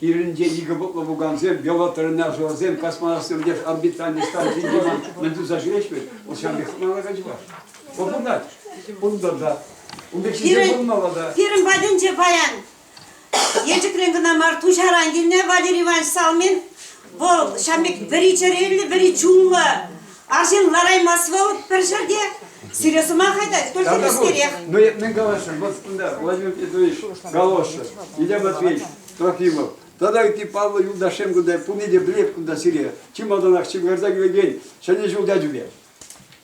Кирӗнче икӗ пӑтлӑ пукансем, велотренажерсем, космонавтсем леш орбитальный станцийӗнче ман мӗн туса ҫӳреҫ вӗт, вӑл ҫавӑн пек хӑналаканччӗ-ха. Вӑл пурнать. Пурӑнтӑр та. Ун пек ҫынсем пурӑнмалла та. Пирӗн патӗнче паян, Елчӗкрен кӑна мар, Туҫаран килнӗ Валерий Иванович Салмин Вӑл ҫав пек вӗри чӗреллӗ, вӗри чунлӑ. Арҫын лараймасть вӑл пӗр ҫӗрте. Сире сӑмах айтать, только вестерех. Ну, мӗн калаҫҫӑн? Вот кунта Владимир Петрович Галошев, Илья Матвеевич Трофимов. Тата ытти паллӑ юлташсем кунта пурне те пӗлеп кунта сире. Чи малтанах чим карса килекен ҫӗнӗ ҫул ячӗпе.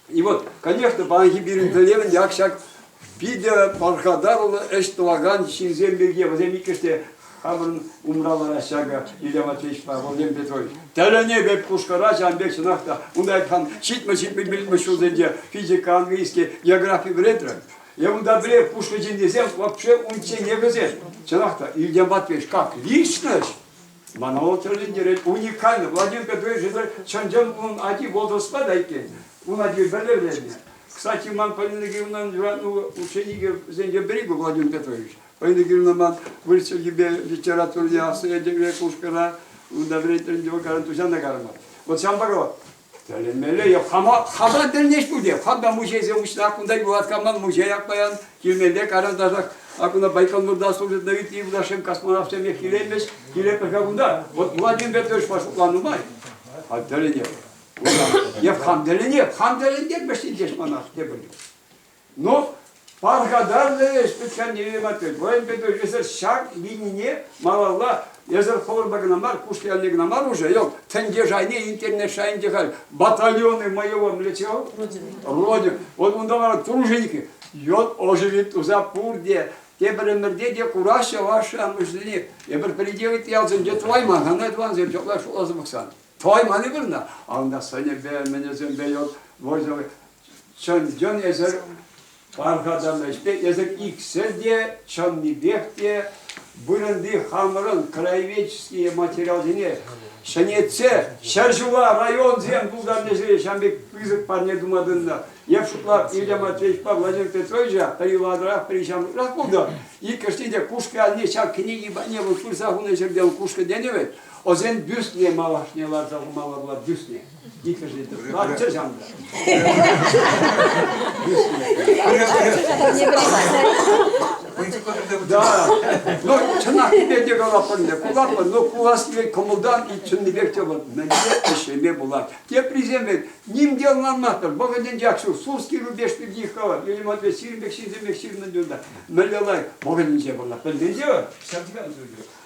И вот, конечно, паянхи пирӗн тӗллевӗн як ҫак питӗ пархатарлӑ ӗҫ тӑвакан ҫынсем пирки, вӗсем иккӗш те хамӑрӑн умралара ҫакӑ Илья Матвеевичпа Владимир Петрович. Тӗлӗне пек пушкӑра ҫавӑн пек чӑнах та унта там ҫитмӗ-ҫитмӗ ҫулсенче физика, английский, географи вӗрентрӗм. И унта пире пушкӑ ҫыннисем вообще унччен не вӗсем. Чӑнах та, Илья Матвеевич как личность Мана вӑл тӗлӗнтерет, уникальный. Владимир Петрович это чӑн-чӑн унӑн ати возрастпа та иккен. Ун ати вӗлерленнӗ. Кстати, ман Полина Георгиевнан юратнӑ ученикӗсенчен пӗри ку Владимир Петрович. Полина Георгиевна ман вырӑсча типе литературӑна ясӑ этемре кушкӑна унта вӗрентӗм, вӑкаран туҫана карма. Вот ҫавӑнпа Тӗлӗнмелле йӑх. Хама, хамран тӗлӗнес пуль Хам та мучейсем уҫнӑ, кунта юлать каман мучей ак паян килмелле каранташах. Ак ӑна Байконурта служит на ытти юлташем космонавтсем килемӗҫ. Килепӗр-ха кунта. Вот Владимир тӑрӑшма шутлан нумай. А тӗлӗнеп. Йӑх хам тӗлӗнеп, хам тӗлӗнеп вӗҫсен космонавт тепӗр юл. Но пархатарлӑ ӗҫ пӗтхӗрнеме маттель. Воин петух эсир ҫак вилнине малалла эсир хӑвӑрпа кӑна мар, куш киялне кӑна мар уже, yok, тӗнче шайне, интернет шайӗнче халь батальоны моего млечего, родин, вот унта вара труженики, йод оживит туза пурте, тепӗр ӗмӗрте те кураҫҫӗ ваши амӑшсене, эпир приделать ялсенче тӑвайман, хана тӑвансем ҫокла шуласа пӑхсан, тӑвайман-и вырна, а унта сӑнӗпе, мӗнесемпе, yok, Чӑн-чӑн эсӗр пархатан ӗҫпе эсӗр иксӗр те чӑннипех те вырӑнти хамӑрӑн краеведческие материалсене ҫӗнетсе ҫӗр-ҫула районсем тултарнишӗн ҫав пек пысӑк парне тума тытӑннӑ. Эп шутлап, Илья Матвеевичпа Владимир Петровича пӗр юланрах, пӗр ҫамрӑкрах пулнӑ. Иккӗшне те Кушкӑ алне ҫав кӗнеки патне вӑл пырса хунӑ ҫӗртен Кушкӑ тенӗ вӗт. Ӑсен бюстне малашне ларса хумалла пулать, бюстне. Иккӗшӗ те тӑрӑшчӑр ҫамрӑк. Да, но чӑнах те калатпӑр ӗнтӗ, кулатпӑр, но кулассипе кӑмӑлтан чӑннипех те вӑл мӗнле ӗҫлеме пулать. Теприсем вӗт, ним те ӑнланмастӑр, вӑхӑтӗнчех ҫук Сурский рубеж пирки их калать, Юрий Матвеевич сирӗн пек ҫынсем пек ҫырнӑ юлташ. Мӗнле лайӑх, вӑхӑтӗнче пулнӑ, пӗлменче вӑл, ҫав текен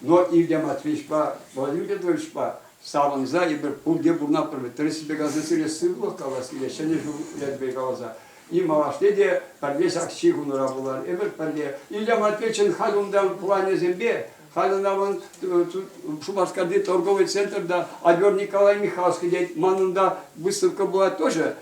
Но Илья Матвеевичпа Владимир Петровичпа савӑнса эпир пурте пурӑнатпӑр. Тӗрӗссипе каласа сире сывлӑх калассине, ҫӗнӗ ҫул ячӗпе каласа. И малашне те пӗрле ҫак чи кунра пулар. Эпир пӗрле. Илья Матвеевичӑн халь унтан планӗсемпе, халь ӑна ман Шупашкарти торговый центрта Адёр Николай Михайловский тет, манӑн та выставка пулать тоже.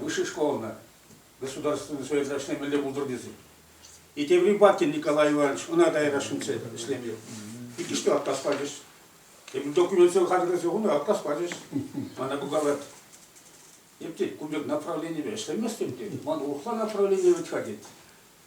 высшей школӑна государственный советлаҫне мӗнле пултӑр тесе. И тепри Батин Николай Иванович ӑна дайрашынче ӗҫлемелле. Иккӗште атас пачӗҫ. Эпир документсем хатӗрлесе хунӑ, атас пачӗҫ. Мана пултарать. Эптет, кун пек направленипе ӗҫлеместӗм тет. Ман урӑхла направление вӗт-ха тет.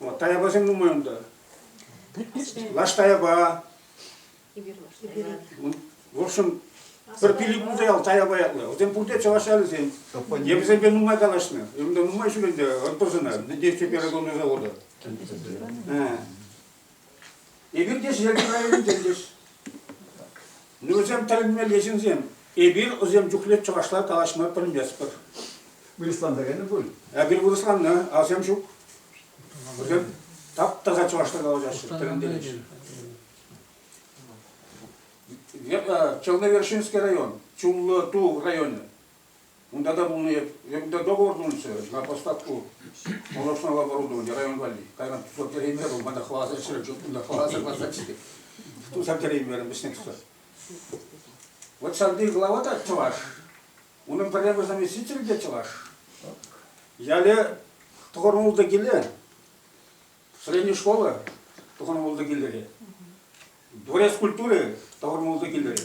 О, таяпасем нумай унта. Лаш таяпа. В общем, пӗр пилӗк пулса ял таяпа ятлӑ. Вӗсем пурте чӑваш ялӗсем. Я вӗсемпе нумай калаҫнӑ. Унта нумай ҫул ӗнтӗ ӑнтӑсӑна Недесьте первого завода. Эпир те Шӗшеркӗ районӗнче ӗҫлӗҫ. Вӗсем тӗлӗнмелле ҫынсем. Эпир вӗсем чухлӗ чӑвашла калаҫма пӗлместпӗр. Вырӑсланса кайнӑ пуль? Эпир вырӑсланнӑ, асем ҫук. Вӗсем тап-таса чӑвашла калаҫаҫҫӗ, тӗлӗнтереҫҫӗ. Э, Черновершинский район, Чуллы Ту районӗ. Унта та пулнӑ эп. Е кунта договор пулнӑччӗ на поставку молочного оборудования район валли. Кайран кусор кӗреймерӗ вӑл, мана хӑварса ҫӗрӗ, чупнӑ, хӑварса кӑларсаччӗ. Тусам кӗреймерӗм вӗҫне кусор. Вот ҫаври глава та чӑваш. Унӑн пӗрремӗш заместитель те чӑваш. Яле тухӑрман ултӑ киле, средняя школа тухӑрман ултӑ киллере, дворец культуры тухӑрман ултӑ киллере.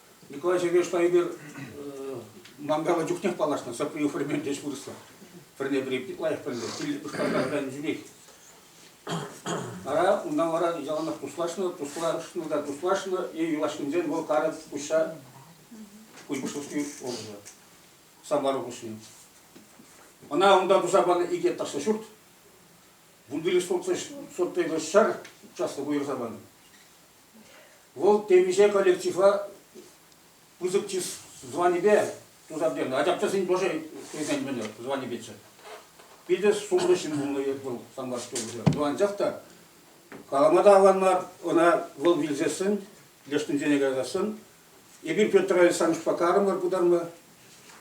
Николай Сергеевич Лайдер мангала чухнех паллашнӑ, сопри формен ӗҫ вырӑсла. Пӗрне-пӗри лайӑх пӗлнӗ, тилӗ пӑхкалакан чӳкех. Ара, унтан вара яланах туслашнӑ, туслашнӑ та туслашнӑ, е юлашкинчен вӑл карӑк куҫа куҫпуҫлӑхки oldu. Самбару куҫне. Ӑна унта туса панӑ икӗ ташлӑ ҫурт, вундиреш сортлӑ ҫӗр участок уйӑрса панӑ. Вӑл темиҫе коллектива пысӑк чыс званипе туса пӗтернӗ. Ачапчасен тоже тесен мӗнле званипеччӗ. Питӗ сумлӑ ҫын пулнӑ вӑл Самбарское облаҫ. Анчах та калама та аван мар ӑна вӑл вилсессӗн, лешнинсене каясассӑн. Эпир Петр Александровичпа карӑмӑр пытарма.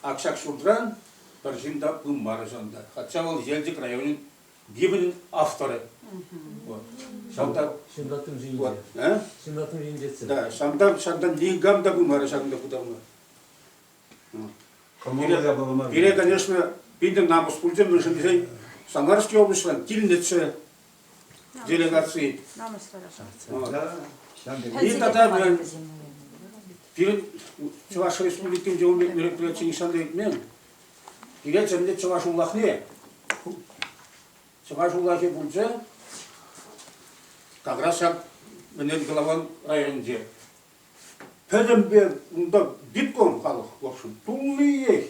Ак ҫак ҫуртран пӗр ҫын та пымарӗ ҫавӑнта. Хотя вӑл Елчӗк районӗн Библин авторы. Вот. Ҫавӑнта ҫынраттым ҫинче. Э? ҫынраттым ҫинче. Да, ҫавӑнта ҫавӑнта никам та пулмарӗ ҫакӑнта путарма. Пире, конечно, питӗ намӑс пулчӗ, мӗншӗн тесен Самарский облаҫран килнӗччӗ делегации. И тогда мы пирӗн Чӑваш Республикинче мероприятие нихҫан та иртмен. Илетчӗ ӗнтӗ чӑваш улахне. Чӑваш улахӗ пулчӗ как раз ҫак Ӗнел-Калаван районӗнче. Пӗтӗмпе унта диплом халӑх, в общем, туллиех.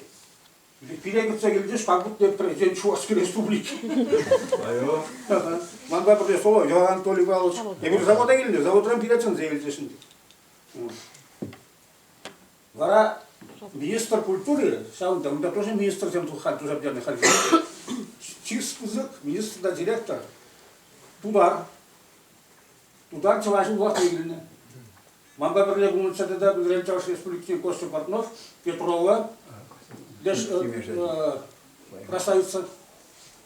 Пире кӗтсе килчӗҫ, как будто президент Чувашской Республики. Айо. Манпа пӗрле Соловьев Анатолий Павлович. Эпир завода килнӗ, заводран пире чӗнсе илчӗҫ ӗнтӗ. Вара министр культури, ҫавӑн тӑвӑнта тоже министрсем туххан туса пӗтернӗ хальхи. Чи пысӑк министр та директор тутар. Тутар чӑваш улахне килнӗ. Манпа пӗрле пулнӑчча тата Пӗлрен Чӑваш Республикин Костя Портнов, Петрова, леш э, э, красавица.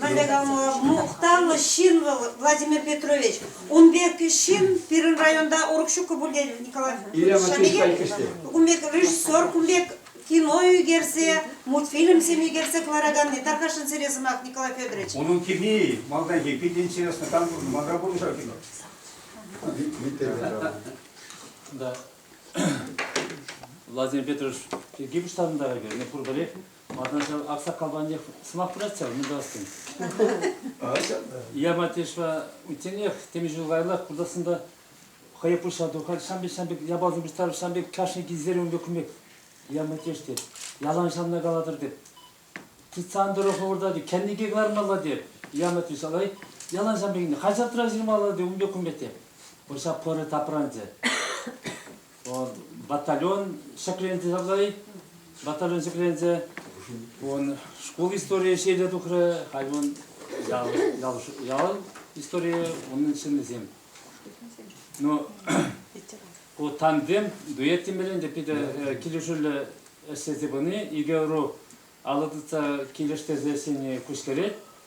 Валерий Калмуш, мухтавлӑ ҫын вӑл Владимир Петрович. Ун пек ҫын пирӗн районта урӑх ҫуккӑ пуль те, Николай Шанигетович. Кун пек режиссер, кун пек кино ӳкерсе, мультфильмсем ӳкерсе кӑлараканни, тархасшӑн сире сӑмах, Николай Федорович. Унӑн кини малтанхи питӗ интересно. Там мандра пулнӑ кино. Да. Владимир Петрович пирки пуҫтарӑнтарать. Пурпӗрех Малтан ҫав аксакалпанчӑк сӑваплать ҫав, мутассӑн. Я матешла утенех темиҫе ҫул каяллах куртасында хӑйе пуҫа тухать, ҫам пек, ҫам пек япаласем пуҫтарып, ҫам пек кашни килсерен ун пек кун пек я матеш тет, ялан ҫанна калатӑр тет. Тытсан тӑрӑх урта тет, кӗнеке кӑлармалла тет, я матеш алай, ялан ҫам пек, хаҫатра ҫырмалла тет, ун пек кун пек тет. Ҫав пӑрӑ тапранчӗ. батальон ҫӗкленсе сарлать. Батальон ҫӗкленсе он шкул историйӗ ҫиеле тухрӗ, халь он ял, ял, ял историйӗ унӑн ҫыннисем. Ну, ку тандем дуэт темелен те питӗ килӗшӳллӗ ӗҫлесе пыни икӗ ӑру алӑ тытса килӗштерсе ӗҫлени куҫкӗрет.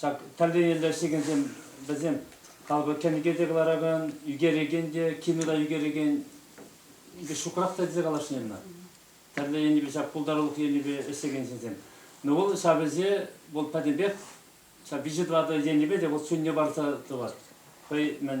Ҫак тӗрлӗ ӗҫлекенсем вӗсем талпа кӗнеке те кӑларакан, ӳкерекен те, кино та ӳкерекен икӗ ҫукрах та тесе калаҫнӑ тӗрлӗ енӗпе ҫак пултарулӑх енӗпе ӗҫлекен ҫынсем. Но вӑл ҫав ӗҫе вӑл пӗтӗмпех ҫав виҫӗ-тӑватӑ енӗпе те вӑл сӳнне парса тӑвать. Хӑй мӗн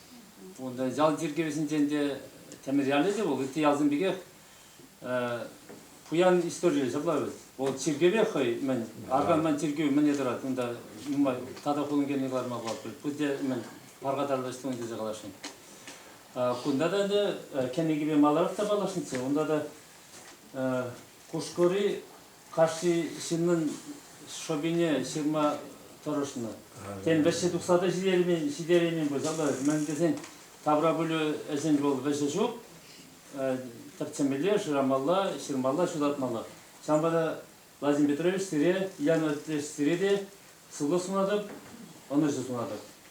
Унта ял чиркӗвӗсенчен те тӗмер ялӗ те вӑл, ытти ялсем пекех пуян историллӗ ҫапла вӗт. Вӑл чиркӗве хӑй мӗн, арка мӗн чиркӗвӗ мӗне тӑрать унта нумай тата хулӑн килни кӑларма палӑртать. Пурте мӗн пархатарлӑ ӗҫ тунӑ тесе каласшӑн. Кунта та ӗнтӗ кӗнекипе маларах та паллашнӑччӗ. Унта та Кушкӑри Кашни ҫыннӑн шӑпине ҫырма тӑрӑшнӑ. Тен, вӗҫҫи тухса та ҫитереймен пулсан та, мӗн тесен таврапӗлӳ ӗҫӗн вӑл вӗҫӗ ҫук. Тӗртсемелле, шырамалла, ҫырмалла, ҫутатмалла. Ҫавӑнпа та Владимир Петрович сире, Ян Отечественре те сывлӑх сунатӑп, ӑнӑҫу сунатӑп.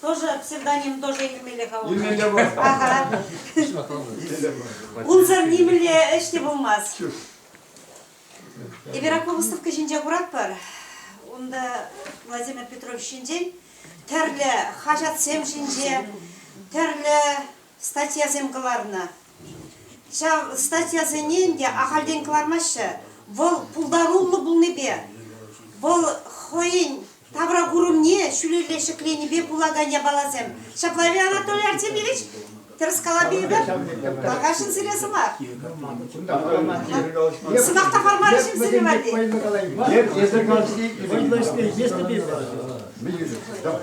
Тоже псевдоним тоже нимелле калать. Нимле те пулать. Ага. Унсӑр нимле ӗҫ те пулмасть. Эверакул выставка ҫинче куратпӑр. Унта Владимир Петрович ҫинчен тӗрлӗ хаҫатсем ҫинче, тӗрлӗ статьясем кӑларнӑ. Ҫав статьясене ӗнтӗ ахальтен кӑлармаҫҫӗ. Вӑл пултаруллӑ пулнипе, вӑл хӑйӗн тавра курӑмне ҫӳлелле ҫӗкленипе пулакан япаласем. Ҫапла, Илья Анатольевич Артемьевич, тӗрӗс калапи эпир, Макашин сире сӑмах. Сӑмах та формаллӑ ҫынсене валли. Эсӗ калси вӑйлӑ ӗҫле, если без. Давай.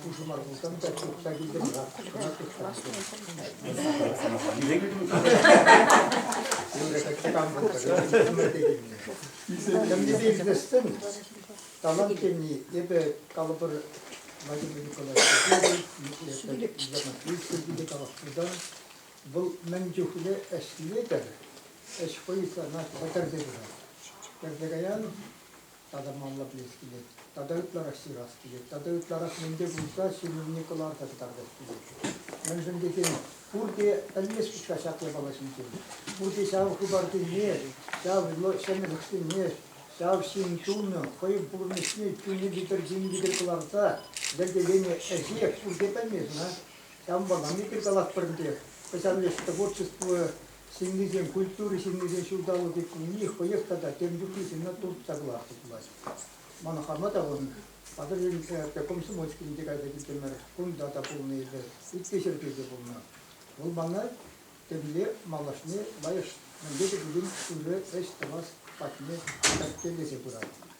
Пушӑ мар пулсан та чупса килтӗм-ха. Тӗмлисем Талант тени эпӗ калӑпӑр Владимир Николаевич Ермакиевский калаҫтӑм вӑл мӗн чухлӗ ӗҫлетӗр ӗҫ хӑй сана пӗтерсе пырать. Пӗтерсе каян тата малла пӗлес килет, тата ытларах ҫырас килет, тата ытларах мӗнпе пулса ҫырӑвне кӑларса кӑтартас килет. Мӗншӗн тесен пурте пӗлмест-ҫке ҫак япала ҫинчен. Пурте ҫав хыпарсене, ҫав ҫӗнӗлӗхсене, ҫав ҫын чунӗ, хӑйӗн пурнӑҫне чунӗ витӗр тин витӗр кӑларса йӗркеленӗ ӗҫе пурте пӗлмест-ха. Ҫавӑнпала эпир калатпӑр ӗнтӗ, кӑҫал ӗҫ творчество Ҫыннисем культура ҫыннисен ҫулталӑкӗ кунне хӑех тата тем чухлисене туртса кӑларса тулаҫ. Мана хама та вӑл Патӑрьел э, комсомольскинче кайса килтӗмӗр. Кунта та пулнӑ эпӗ, ытти ҫӗрте те пулнӑ. Вӑл мана темле малашне лайӑх мӗнле те пулин ырӑ ӗҫ тӑвас патне кӗрткелесе пырать.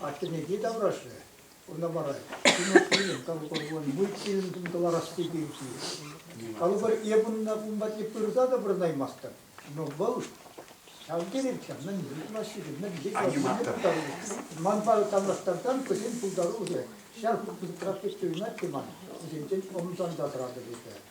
Аттене те таврашрӗ, ӑна вара Тимофейӑн калӑпӑрван мультфильм кӑларасси пирки. Калӑпӑр, эп унна кун патне пырса та вырӑнаймастӑп, но вӑл ҫав терехчӗ, мӗн ыйтмаҫҫӗ-ши, мӗн пултарулӑх. Манпа танлаштарсан хӑйсен пултарулӑхӗ ҫав хут пысӑкрах пек туйӑнать те ман, вӗсенчен ӑмсанса тӑратӑп эпӗ.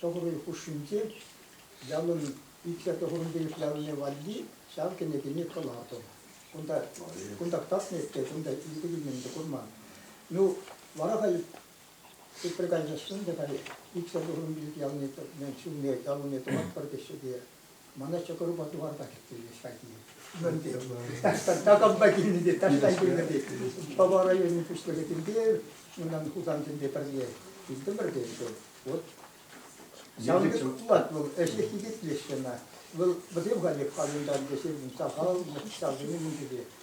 Тӑххӑрӑн хушшинче ялӑн икӗ тӑхӑрӑн пилӗк ялне валли ҫав кӗнекене кӑлартӑм. Кунта кунтах татнӑ эппе, кунта икӗ килнӗн те курман. Ну, вара халь тепре кайсассӑн та халь иксӗр тӑхӑрӑн пилӗк ялне ҫулне, ял умне тӑватпӑр теҫҫӗ те. Мана ҫӑкӑрупа туварпа кӗрттермест хайхине. Такампа килнӗ те таҫтан килнӗ те Пӑва районӗн пуҫлӑхӗ тӗнпе унӑн Хусансемпе пӗрле килтӗмӗр те ӗнтӗ. Вот Ялгыз пулать вӑл, ӗҫе хитетлеҫҫӗ ӑна. Вӑл вӗсем халех хальӑнтан те сирӗн сахал, ҫавсене мунчипе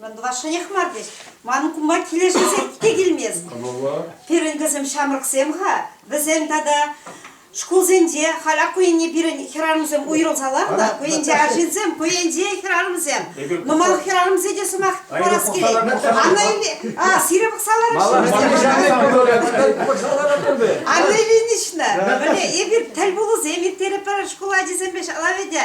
Ман тӑвашшӑнех мар тет. Ман кума килӗшӳсем те килмест. Кӑмӑллӑ. Пирӗн кӗсем ҫамрӑксем-ха. Вӗсем тата шкулсенче халь ак ку енне пирӗн хӗрарӑмсем уйрӑлсалар та ку енче арҫынсем ку енче хӗрарӑмсем нумай хӗрарӑмсем те сӑмах парас килет анна иле а сире пӑхса лараҫҫӗ анна ильинична эпир тӗл пулусем ирттерӗпӗр шкул ачисемпе ҫала вӗтӗ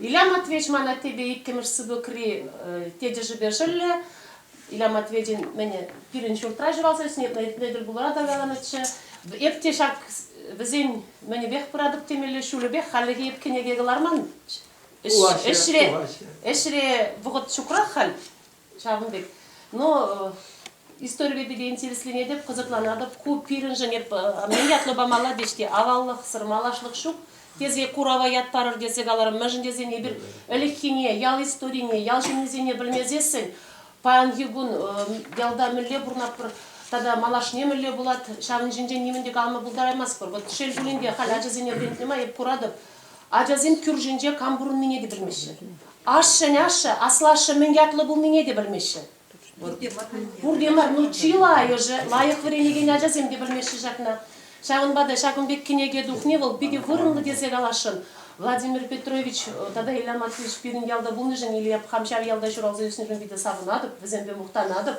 Илья Матвеевич ман аттепе иккӗмӗш сыпӑкри тетӗшӗпе шӑллӗ. Илья Матвеевичӑн мӗн пирӗн ҫуртра ҫуралса ӳснӗ эрне тӗл пулура та каланӑччӗ. Эп те ҫак вӗсен мӗнӗпех пыратӑп темелле ҫулӗпех хальлӗхе эп кӗнеке кӑларман. Ӗҫре вӑхӑт ҫукрах халь. Ҫавӑн пек. Но историпе пике интересленетӗп, кӑсӑкланатӑп. Ку пирӗншӗн эп мӗн ятлӑ памалла тет-ҫке, аваллӑхсӑр малашлӑх ҫук. Тесе курава ят парӑр тесе каларӑм, мӗншӗн тесен эпир ӗлӗкхине, ял историне, ял ҫыннисене пӗлмесессӗн паянхи кун ялта мӗнле пурӑнатпӑр тата малашне мӗнле пулать, ҫавӑн ҫинчен нимӗн те калама пултараймастпӑр. Вот шел пулин те, халь ачасене вӗрентнӗ май эп куратӑп, Ачасем кӳршинче кам пурӑннине те пӗлмеҫҫӗ. Ашшӗн ашшӗ, аслашшӗ мӗн ятлӑ пулнине те пӗлмеҫҫӗ. Пурте мар, ну чылайӑшӗ лайӑх вӗренекен ачасем те пӗлмеҫҫӗ ҫакна. Ҫавӑнпа та ҫакӑн пек кӗнеке тухни вӑл питӗ вырӑнлӑ тесе каласшӑн. Владимир Петрович тата Илья Матвеевич пирӗн ялта пулнишӗн Илья хам ҫав ялта ҫуралса ӳснишӗн питӗ савӑнатӑп, вӗсемпе мухтанатӑп.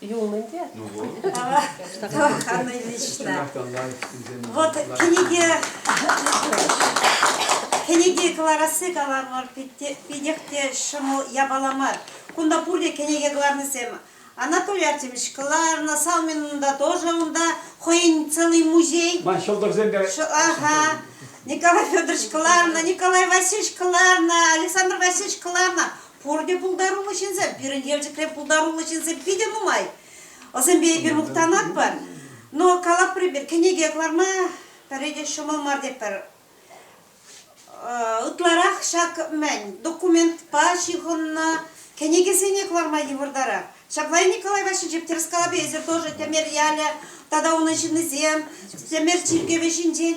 Юлнӑ те? Тӑваканнӑй лично. Вот книги, книги кӑларасси каламӑр, питех те ҫӑмӑл япала мар. Кунта пурте кӗнеке кӑларнисем. Анатолий Артемьевич кӑларнӑ, Салмин унта тоже унта, хӑйӗн целый музей. Ман ҫӑлтӑрсем те. Ага. Николай Федорович кӑларнӑ, Николай Васильевич кӑларнӑ, Александр Васильевич кӑларнӑ. Пурте пултаруллӑ ҫынсем. Пирӗн Елчӗкре пултаруллӑ ҫынсем питӗ нумай. Вӑсемпе эпир мухтанатпӑр. Но калапри пир кӗнеке кӑларма пӗри те ҫӑмӑл мар тетпӗр. Ытларах ҫак мӗн документпа ҫыхӑннӑ кӗнекесене кӑларма йывӑртарах. Ҫапла и Николай Васильевич тӗрӗс калапи эсир тоже Тӗмер ялӗ тата унӑн ҫыннисем Тӗмер чиркӗвӗ ҫинчен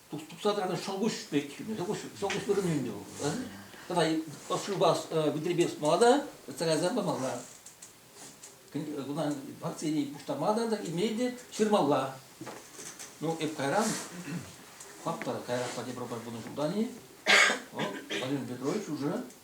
тупса тӑракан шӑлкуҫ пек шӑлкуҫ шӑлкуҫ вырӑнӗнче вӑл тата ӑшшупа витрепе сутмалла та сарайсем памалла кунта партине пуҫтармалла та имей те ҫырмалла ну эп кайран хапта кайран пати пробар пынӑ ҫултан-и вӑл Валерий Петрович уже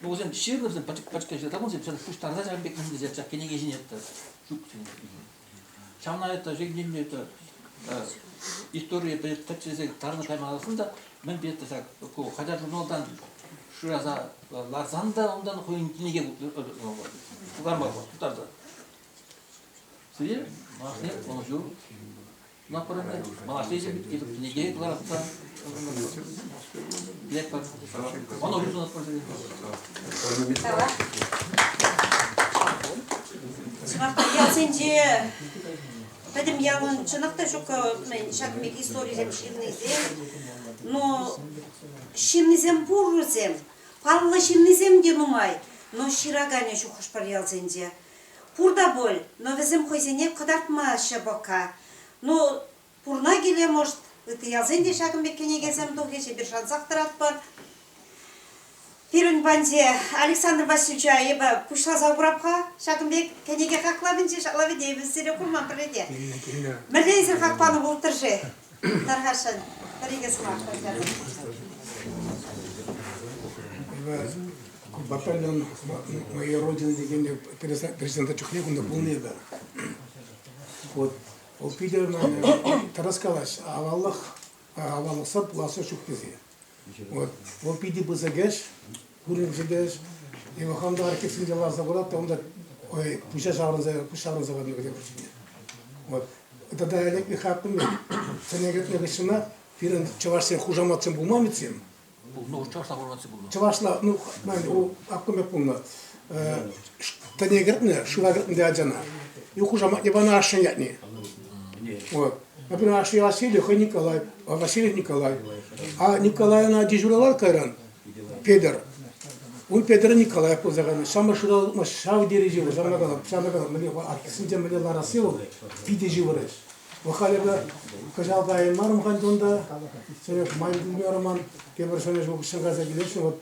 Ну, вӗсем ҫырнӑ вӗсем пӗчӗккӗн ҫырса тӑман, вӗсем пуҫтарса ҫавӑн пек мӗншӗн ҫак кӗнеке ҫине это ҫук ҫавна это ҫемьене это историе тӗпчесе тарӑн каймаласын та мӗн петӗр ҫак ку хотя журналтан шыраса ларсан та унтан хӑйӗн кӗнеке куҫтарма тутарса. Сире машне Например, последний этот книге кыларатса, клетка, он обязан использовать. Чӑнах ялсенче пӗтӗм ялӑн чӑнах та ҫук ҫак мек историсем ҫыннисем, но ҫыннисем пуррисем, паллӑ ҫыннисем те нумай, но ҫыраканӗ ҫук хӑш-пӗр ялсенче. Пур та пуль, но вӗсем хӑйсене кӑтартма ҫӑпӑка. Ну, пурна киле, может, ытти ялсен те ҫакӑн пек кӗнекесем тухӗҫ, эпир шансах тӑратпӑр. Пирӗн паньте Александр Васильевич айӑпа пуҫласа курап-ха ҫакӑн пек кӗнеке хаклавӗнчи шаклавӗ те эпир сире курман пӗрре те. Мӗнле эсир хак панӑ пултӑр-ши? Сахашӑн пӗр-икӗ сӑмах пӗлсе Батальон моей родины текенде пересадка чухне кунта пулнӑ та. Вот ол питӗ тарас калаҫ аваллӑх аваллӑхсӑр пуласса ҫук тесе. Вот, вот питӗ пысӑк ӗҫ, курӑнчӗ те ӗҫ. И хам та архивсенче ларса курат, onda ой, пуҫа ҫаврӑнса, пуҫ ҫаврӑнса кайнӑ кӗтем кӗҫне. Вот. Тата ӗлӗк пек хакмын мен. Сене кӗтнӗ кӗҫҫӗмә пирӗн чӑвашсен хушаматсем пулман ведь сем? Пулнӑ, чӑвашла хушаматсем пулнӑ. Чӑвашла, ну, мане, у аккӑм пек пулнӑ. Тӗне кӗртнӗ, шыва кӗртнӗ те ачана. Ю хушаматне панӑ ашшӗн ятне. Вот. Например, ашшӗ Василий, хӑй Николай, а Василий Николай. А Николай ӑна дежурировать кайран, Петӗр. Ун Петӗр Николаев пулса кайнӑ. Самӑр шыралма ҫав тери ҫывӑр, ҫавна кала, ҫавна кала. Мӗне аттесенче мӗне ларасси вӑл питӗ ҫывӑрать. Вӑл халӗ кӑҫал кайнӑ мар мхан унта. Серег ман килмерӗ ман. Тепӗр ҫӗнӗ ҫул куҫҫан кайса килесшӗн. Вот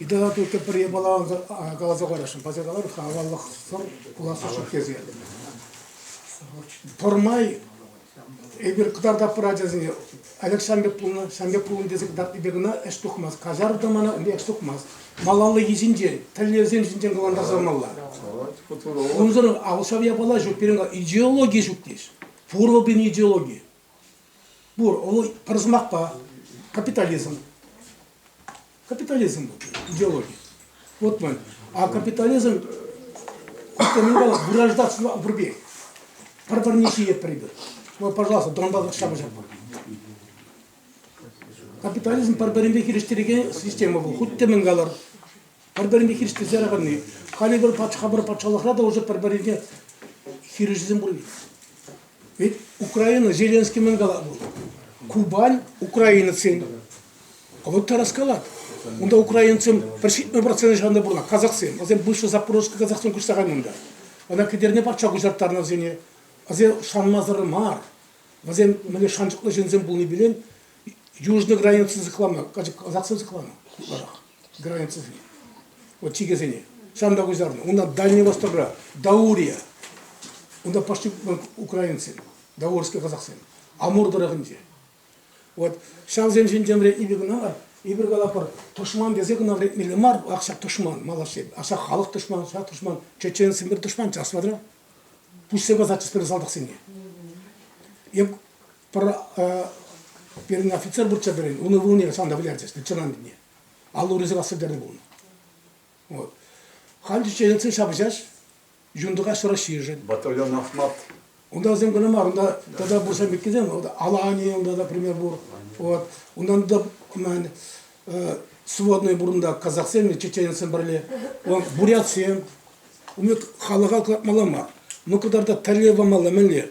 Итала туртӗ пӗр япала каласа парасшӑн, парса калар-ха аваллӑхсӑр пулассишӗн тесе. Пӗрмай эпир кӑтартатпӑр ачасене, Олег ҫам пек пулнӑ, ҫам пек пулнӑ тесе кӑтартнипе кӑна ӗҫ тухмасть. Каҫартӑр мана, ӗнтӗ ӗҫ тухмасть. Малалли йӗҫӗнчен, тӗллевсен ҫинчен калантарса тӑмалла. Унсӑр ал ҫав япала ҫук. Пирӗн идеологи ҫук тес. Пурлӑ пирӗн идеологи. Пур, ол пӗр сӑмахпа капитализм. Капитализм идеологи. Вот мы. А капитализм это не было гражданство пурпе. Пӗр-пӗрне ҫиет прибыр. Ну, пожалуйста, Донбасс ҫапӑҫатпӑр. Капитализм пӗр-пӗринпе хирӗҫтерекен система пул. Хуть те мӗн калар. пӗр-пӗринпе хирӗҫлесе пырни, халӗ пӗр патша пӗр патшалӑхра та уже пӗр-пӗринпе хирӗҫӳсем пурри. Ведь Украина, Зеленский мӗн кала бу? Кубань украинецсен. А вот та раскалат. Унда украинцем пӗр ҫитмӗ процент ҫанда пурна, казахсем. Васем бывший запорожский казахсем куҫса кайнӑнда. Ана кӗтерне патша куҫарттарнӑ вӗсене. Васем шанмасӑр мар. Васем мӗне шанчӑклӑ ҫынсем пулни билен южный границӑн сыхланма, казахсем сыхланма. границӑсене, вот чикесене. Сам та куҫарнӑ. Унта Дальний Востокра, Даурия, унта пошли украинцсем, даурские казахсем, Амур тӑрӑхӗнче. Вот ҫавсен ҫинчен эпир кӑна эпир калапӑр тӑшман тесе кӑна вӗретмелле мар, ак ҫак тӑшман малашле, ак ҫак халӑх тӑшман, ҫак тӑшман, чеченсем пир тӑшман, час смотря. Пуҫсе касатчӗҫ пӗр салтаксене. Эп пирӗн офицер пурччӗ пирӗн, унӑн вырӑнне санта вылярчӗҫ, чӑнан тӗне. Аллурисем рассвӗтернӗ пулнӑ. Вот. Ханчиченсен ҫапӑҫаҫ, юнтӑкаҫ Российшӗн. Батальон Ахмат. Унта вӗсем кӑна мар, унта тата пурсем иккӗсем, Алани, унта да пример пур. Вот. Унтан да мен, сводные бурунда казахсем, чеченецсем пӗрле, бурятсем. Умет халӑха кӑлартмалла мар. Ну кӑтарта тӗрле памалла мӗнле.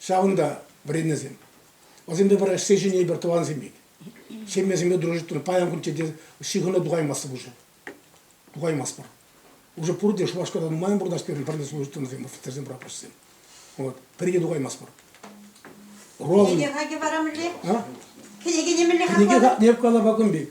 Ҫавӑнта вӗреннӗсем. Вӗсемпе пӗр ӗҫсе ҫӳнӗ пӗр тӑвансем пек. Ҫемьесемпе дружиттӑн паян кун тете ҫыхӑну тухаймастӑп уже. Тухаймастпӑр. Уже пурте Шупашкарта нумайӑн пурнӑҫ пирӗн пӗрле служительсем, офицерсем, прапорщиксем. Вот. Пирки тухаймастпӑр. Роза. Кӗнеке хаки вара мӗнле? А? Кӗнеке мӗнле хакланӑ? Кӗнеке хакне калапакӑн пек.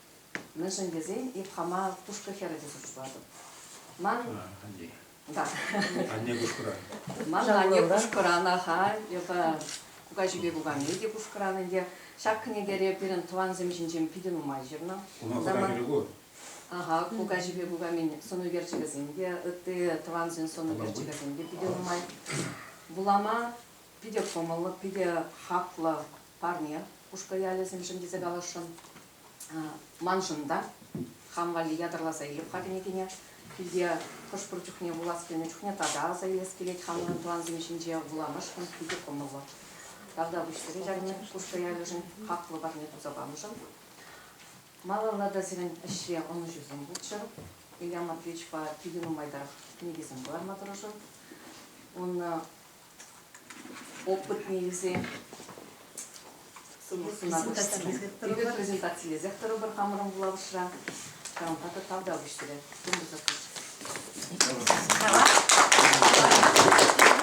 Мӗншӗн тесен эп хама Тушкӑ хӗрӗ тесе шутлатӑп. Ман... Да. Анне Кушкӑран. Манӑн анне Кушкӑран ахаль, йӑлта кукаҫипе кукамей те Кушкӑран ӗнтӗ. Ҫак кӗнекере пирӗн тӑвансем ҫинчен питӗ нумай ҫырнӑ. Уна кукакирӗ ку? Аха, кукаҫипе кукамин сӑн ӳкерчӗкӗсем те, ытти тӑвансен сӑн ӳкерчӗкӗсем те питӗ нумай. Вулама питӗ кӑмӑллӑ, питӗ хаклӑ парне Кушкӑ ялӗсемшӗн тесе каласшӑн. Маншӑн та хам валли ятарласа илеп-ха кӗнекене. Килте хӑш-пӗр чухне вулас килнӗ чухне тата аса илес килет хамӑрӑн тӑвансем ҫинче вуламашкӑн питӗ кӑмӑллӑ. Тавда пуҫтарет арне Кушкӑ ялӗшӗн хаклӑ парне туса памшӑн. Малалла та сирӗн ӗҫре ӑнӑҫусем пулччӑр. Илья Матвеевичпа питӗ нумайтарах кӗнекесем кӑларма тӑрӑшӑр. Ун опытнейсем презентацилесех тӑрӑпӑр хамӑрӑн вулавӑшра кранта та тавта выҫтӑрӗ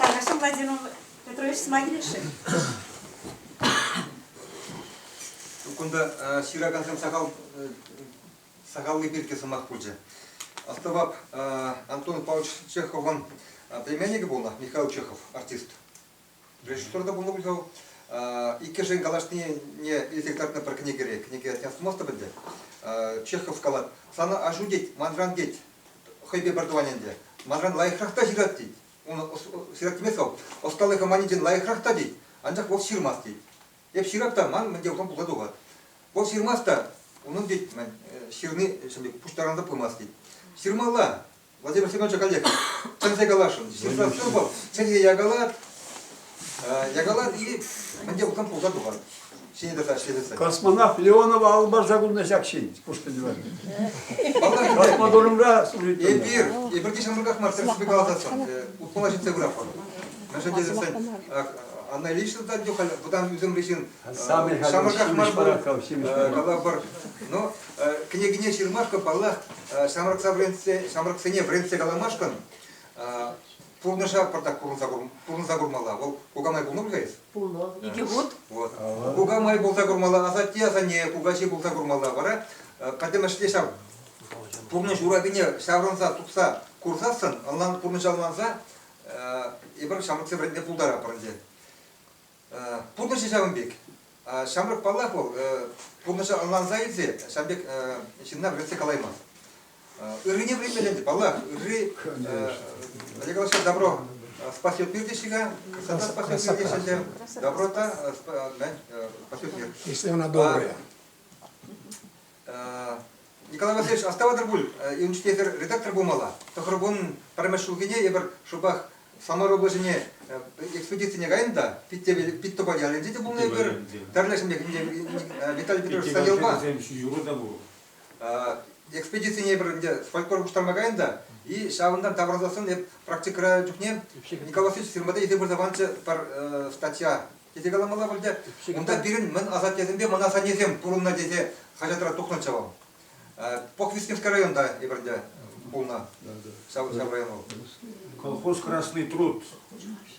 Хорошо, Владимир Петрович, смогилиши? Кунта ҫыракансем сахал сакалли пирки сӑмах пулчӗ. Астӑвап, Антон Павлович Чеховӑн племянникӗ пулнӑ Михаил Чехов, артист. Режиссер та пулнӑ пуль вӑл. Иккӗшӗн калаҫнине илсе кӑтартнӑ пӗр кӗнекере. Кӗнеке астумастӑп ӗнтӗ. Чехов калать, сана аҫу тет, манран тет, хӑйпе пӗр тӑван ӗнтӗ. Манран лайӑхрах та ҫырать тет. Унӑн ҫыраттимест вӑл. Ӑсталӑхӗ маничен лайӑхрах та тет, анчах вӑл ҫырмасть тет. Эп ҫырап та ман мӗн те пулсан пулса тухать. Вӑл ҫырмасть та, унӑн тет, мӗн, ҫырни пуҫтарансӑран пымасть тет. Ҫырмалла, Владимир Семеновича каллех чӗнсе каласшӑн. Ҫырса сыр вӑл, чӗнсе якалат, якалат и мӗн те пулсан пулса тухать. Ҫине тӑса ӗҫлесен. Космонавт Леонова алӑ парса кулнӑ ҫак ҫын, пушпиньла. Космодромра суритӑн. Эпир, эпир те ҫамрӑках мар, тӗрӗссипе каласан, утмӑла ҫитсе пыратпӑр. На самом деле, она лично дать халь вӑтам ӳсӗмри ҫын ҫамрӑках мар будет калапӑр. Но кӗнекене ҫырмашкӑн, паллах, ҫамрӑкса вӗрентсе, ҫамрӑксене вӗрентсе каламашкӑн пурнӑҫа пӑртак пурӑнса курмалла. Вӑл кукамай пулнӑ пуль-ха эс? Пулнӑ. Икӗ хут. Вот. Кукамай пулса курмалла, асатте-асанне, кукаҫи пулса курмалла. Вара пӗтӗмӗшле ҫав пурнӑҫ урапине ҫаврӑнса тупса курсассӑн, ӑнлан пурнӑҫа ӑнланса Эпир ҫамрӑксем вӗрентме пултаратпӑр ӗнтӗ. Пурнӑҫӗ ҫавӑн пек. Ҫамрӑк паллах вӑл пурнӑҫа ӑнланса илсе ҫавӑн пек ҫынна вӗретсе калаймасть. Ыррине вӗренмелле ӗнтӗ, паллах. Ырри, Олег Александрович, добро спасет мирдешега, красота спасет мирдешега, доброта спасет мир. Если она добрая. Николай Васильевич, астӑватӑр пуль, ӳнчте эсир редактор пулмалла. Тӑхӑркун пӗрремӗш ҫулхине эпир шӑпах Самар облаҫӗне экспедицине кайнӑ та Питтӑпа ялӗнче те пулнӑ эпир. Тӗрлӗ ҫемье Виталий Петрович Саялпа. Ҫӳҫӳру та пур. Экспедицине эпир ӗнтӗ фольклор пуҫтарма кайнӑ та, и ҫавӑнтан таврӑнсассӑн эп практикӑра чухне Николай Васильевич фирмада илсе пырса панчӗ пӗр статья Тесе каламалла пуль те, унта пирӗн мӗн асаттесемпе мӑн асаннесем пурӑннӑ тесе хаҫатра тухнӑччӗ вӑл. Похвистневский районта эпир ӗнтӗ пулнӑ. Ҫав, ҫав район вӑл. Колхоз «Красный труд»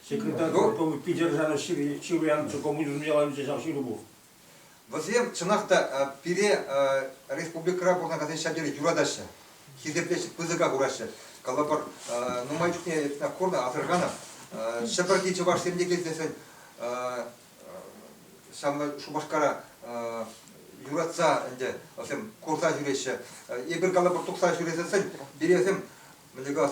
секретарь полковника Питержана Чируянчӑ коммунизм яланче ҫав ҫыру пур. Вӗсем, чӑнах та, пире республикӑра пурӑнакансен ҫав тери юратаҫҫӗ, хисеплеҫҫӗ, пысӑка хураҫҫӗ. Калӑпӑр, нумай чухне эппин курнӑ асӑрханӑ Ҫӗпӗрти чӑвашсем те килсессӗн ҫавна Шупашкара юратса ӗнтӗ вӗсем курса ҫӳреҫҫӗ. Эпир калӑпӑр тухса ҫӳресессӗн пире вӗсем мӗн тӗкас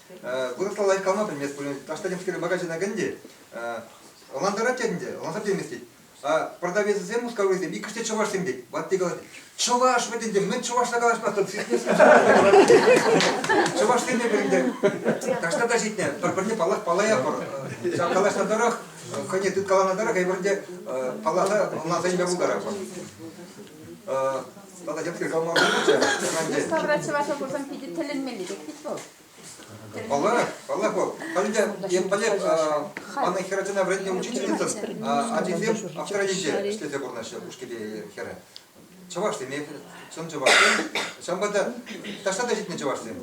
Вырӑсла лайӑх калма пӗлмест пулин, Аштадемский магазина кӗнӗ ӑнлантарать те ӗнтӗ, ӑнлансах теймест тет. А продавецсем, мускавлисем, иккӗш те чӑвашсем тет. Ватти калать, чӑваш вӗт ӗнтӗ, мӗн чӑвашла калаҫмастӑн, сиснесен чӑвашсене ӗнтӗ. Так что та ҫитнӗ, пӗр-пӗрне паллах паллаятпӑр. Ҫав калаҫнӑ тӑрӑх, хӑйне тыткаланӑ тӑрӑх, эпир те палласа ӑнланса илме пултаратпӑр. Тата йӑпки калма пулчӗ. Мускавра чӑвашла курсан питӗ тӗлӗнмелли пек вӗт вӑл. Паллах, паллах вӑл. Халӗ Емпалек манӑн хӗр ачана вӗрентнӗ учительницӑн ачисем автора енче ӗҫлесе пурӑнаҫҫӗ, ушкиле хӗрӗ. Чӑвашсем, чӑн чӑвашсем. Ҫавӑнпа та таҫта та ҫитнӗ чӑвашсем.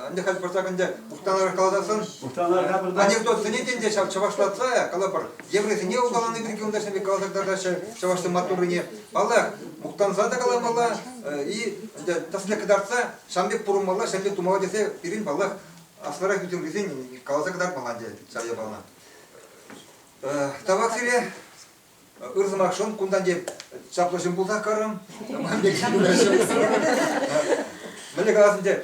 Ӗнтӗ халь пырсак ӗнтӗ мухтанарах каласан, анекдот сӗнет ӗнтӗ ҫав чӑвашлатса, калӑпӑр, еврейсене улкалани пирки унта ҫын пек каласа кӑтартаҫҫӗ чӑвашсем маттуррине. Паллах, мухтанса та каламалла и тӗсне кӑтартса ҫан пек пурӑнмалла, ҫан пек тумалла тесе пирӗн паллах аслӑрах ӳсӗмрисен каласа кӑтартмалла ӗнтӗ ҫав япалана. Тавах сире. Ыр сӑмахшӑн кунтан те чаплӑ ҫын пулсах карӑм. Мӗнле калас ӗнтӗ,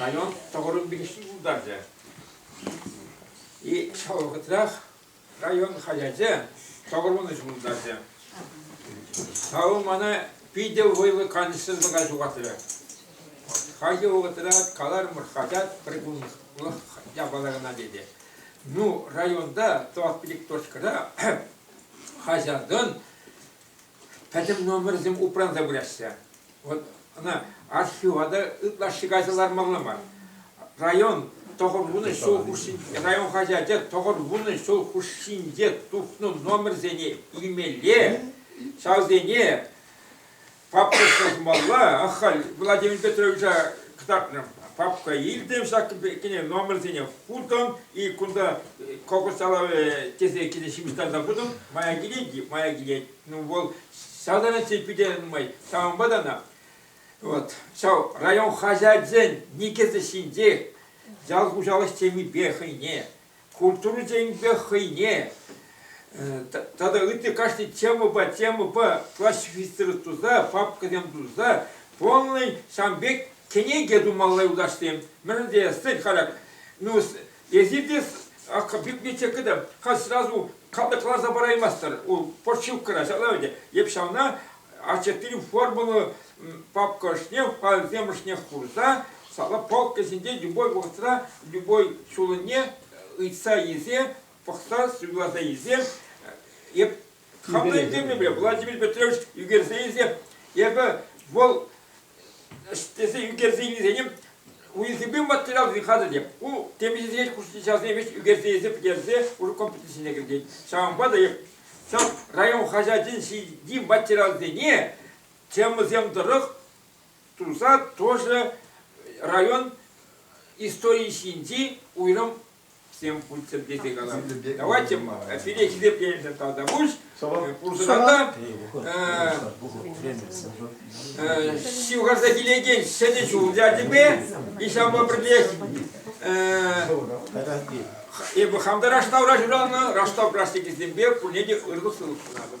Район тӑхӑрӑн пилӗкҫи пултарчӗ. И ҫав вӑхӑтрах район хаҫачӗ тӑхӑр вунӑҫ пултарчӗ. Ҫавӑ мана питӗ вӑйлӑ канӑҫсӑрлӑха ҫухатрӗ. Хальхи вӑхӑтра каларӑмӑр хаҫат прикунлӑх япала кӑна тесе. Ну, районта тӑват пилӗк точкӑра хаҫатӑн пӗтӗм номерсем упранса пыраҫҫӗ. Вот ӑна архива та ытлашши кайса лармалла мар. Район тӑхӑр вунӑ ҫул хушшинче, район хаҫачӗ тӑхӑр вунӑ ҫул хушшинче тухнӑ номерсене илмелле, ҫавсене папка ҫырмалла. Ахаль Владимир Петровича кӑтартнӑ. Папка илтӗм ҫак кӗнӗ номерсене хутӑм, и кунта кокос салавӗ тесе киле ҫыпӑҫтарса хутӑм, мая килет, мая килет. Ну вӑл салтанатче питӗ нумай, ҫавӑнпа та ӑна. Вот, ҫав район хаҫачӗн никӗсӗ ҫинчех ял хуҫалӑх темипе хӑйне культурӑсемпе хӑйне тата ытти кашни темӑпа темӑпа классифицировать туса, папкӑсем туса полный ҫавӑн пек кӗнеке тумалла юлташсем. Мӗн тесен халь, ну, эсир те библиотекӑда халь сразу каласа параймастӑр, у почивкӑра ҫавна, йӗп ҫавна, Ачасен формӑллӑ папка ӑшне, файлсем ӑшнех хурса, сала полка ҫинче любой вӑхӑтра любой ҫулӑне ыйтса илсе, пӑхса, суйласа илсе, эп хамна ӳкермепе Владимир Петрович ӳкерсе илсе, эпӗ вӑл тесе ӳкерсе илнисене уйӑрсемпе материалсем хатӗрлем. Ку темиҫесене ҫавсене веҫ ӳкерсе илсе пӗтерсе уже комплекссене кӗртет. Ҫавӑнпа та ҫав район хаҫачӗн ҫитди материалсене темӑсем тӑрӑх туса тоже район историйӗ ҫинчи уйрӑм всем путсӗр тесе калам. Давайте сире хисепленӗ тогда пусть пурсӑрата ҫывхарса килекен ҫӗнӗ ҫул тетӗпе и ҫавӑнпа пӗрлех эпӗ хам та раштав раҫыралнӑ раштав пластикӗсемпе пурне те ырлӑх-сывлӑх сунатӑп.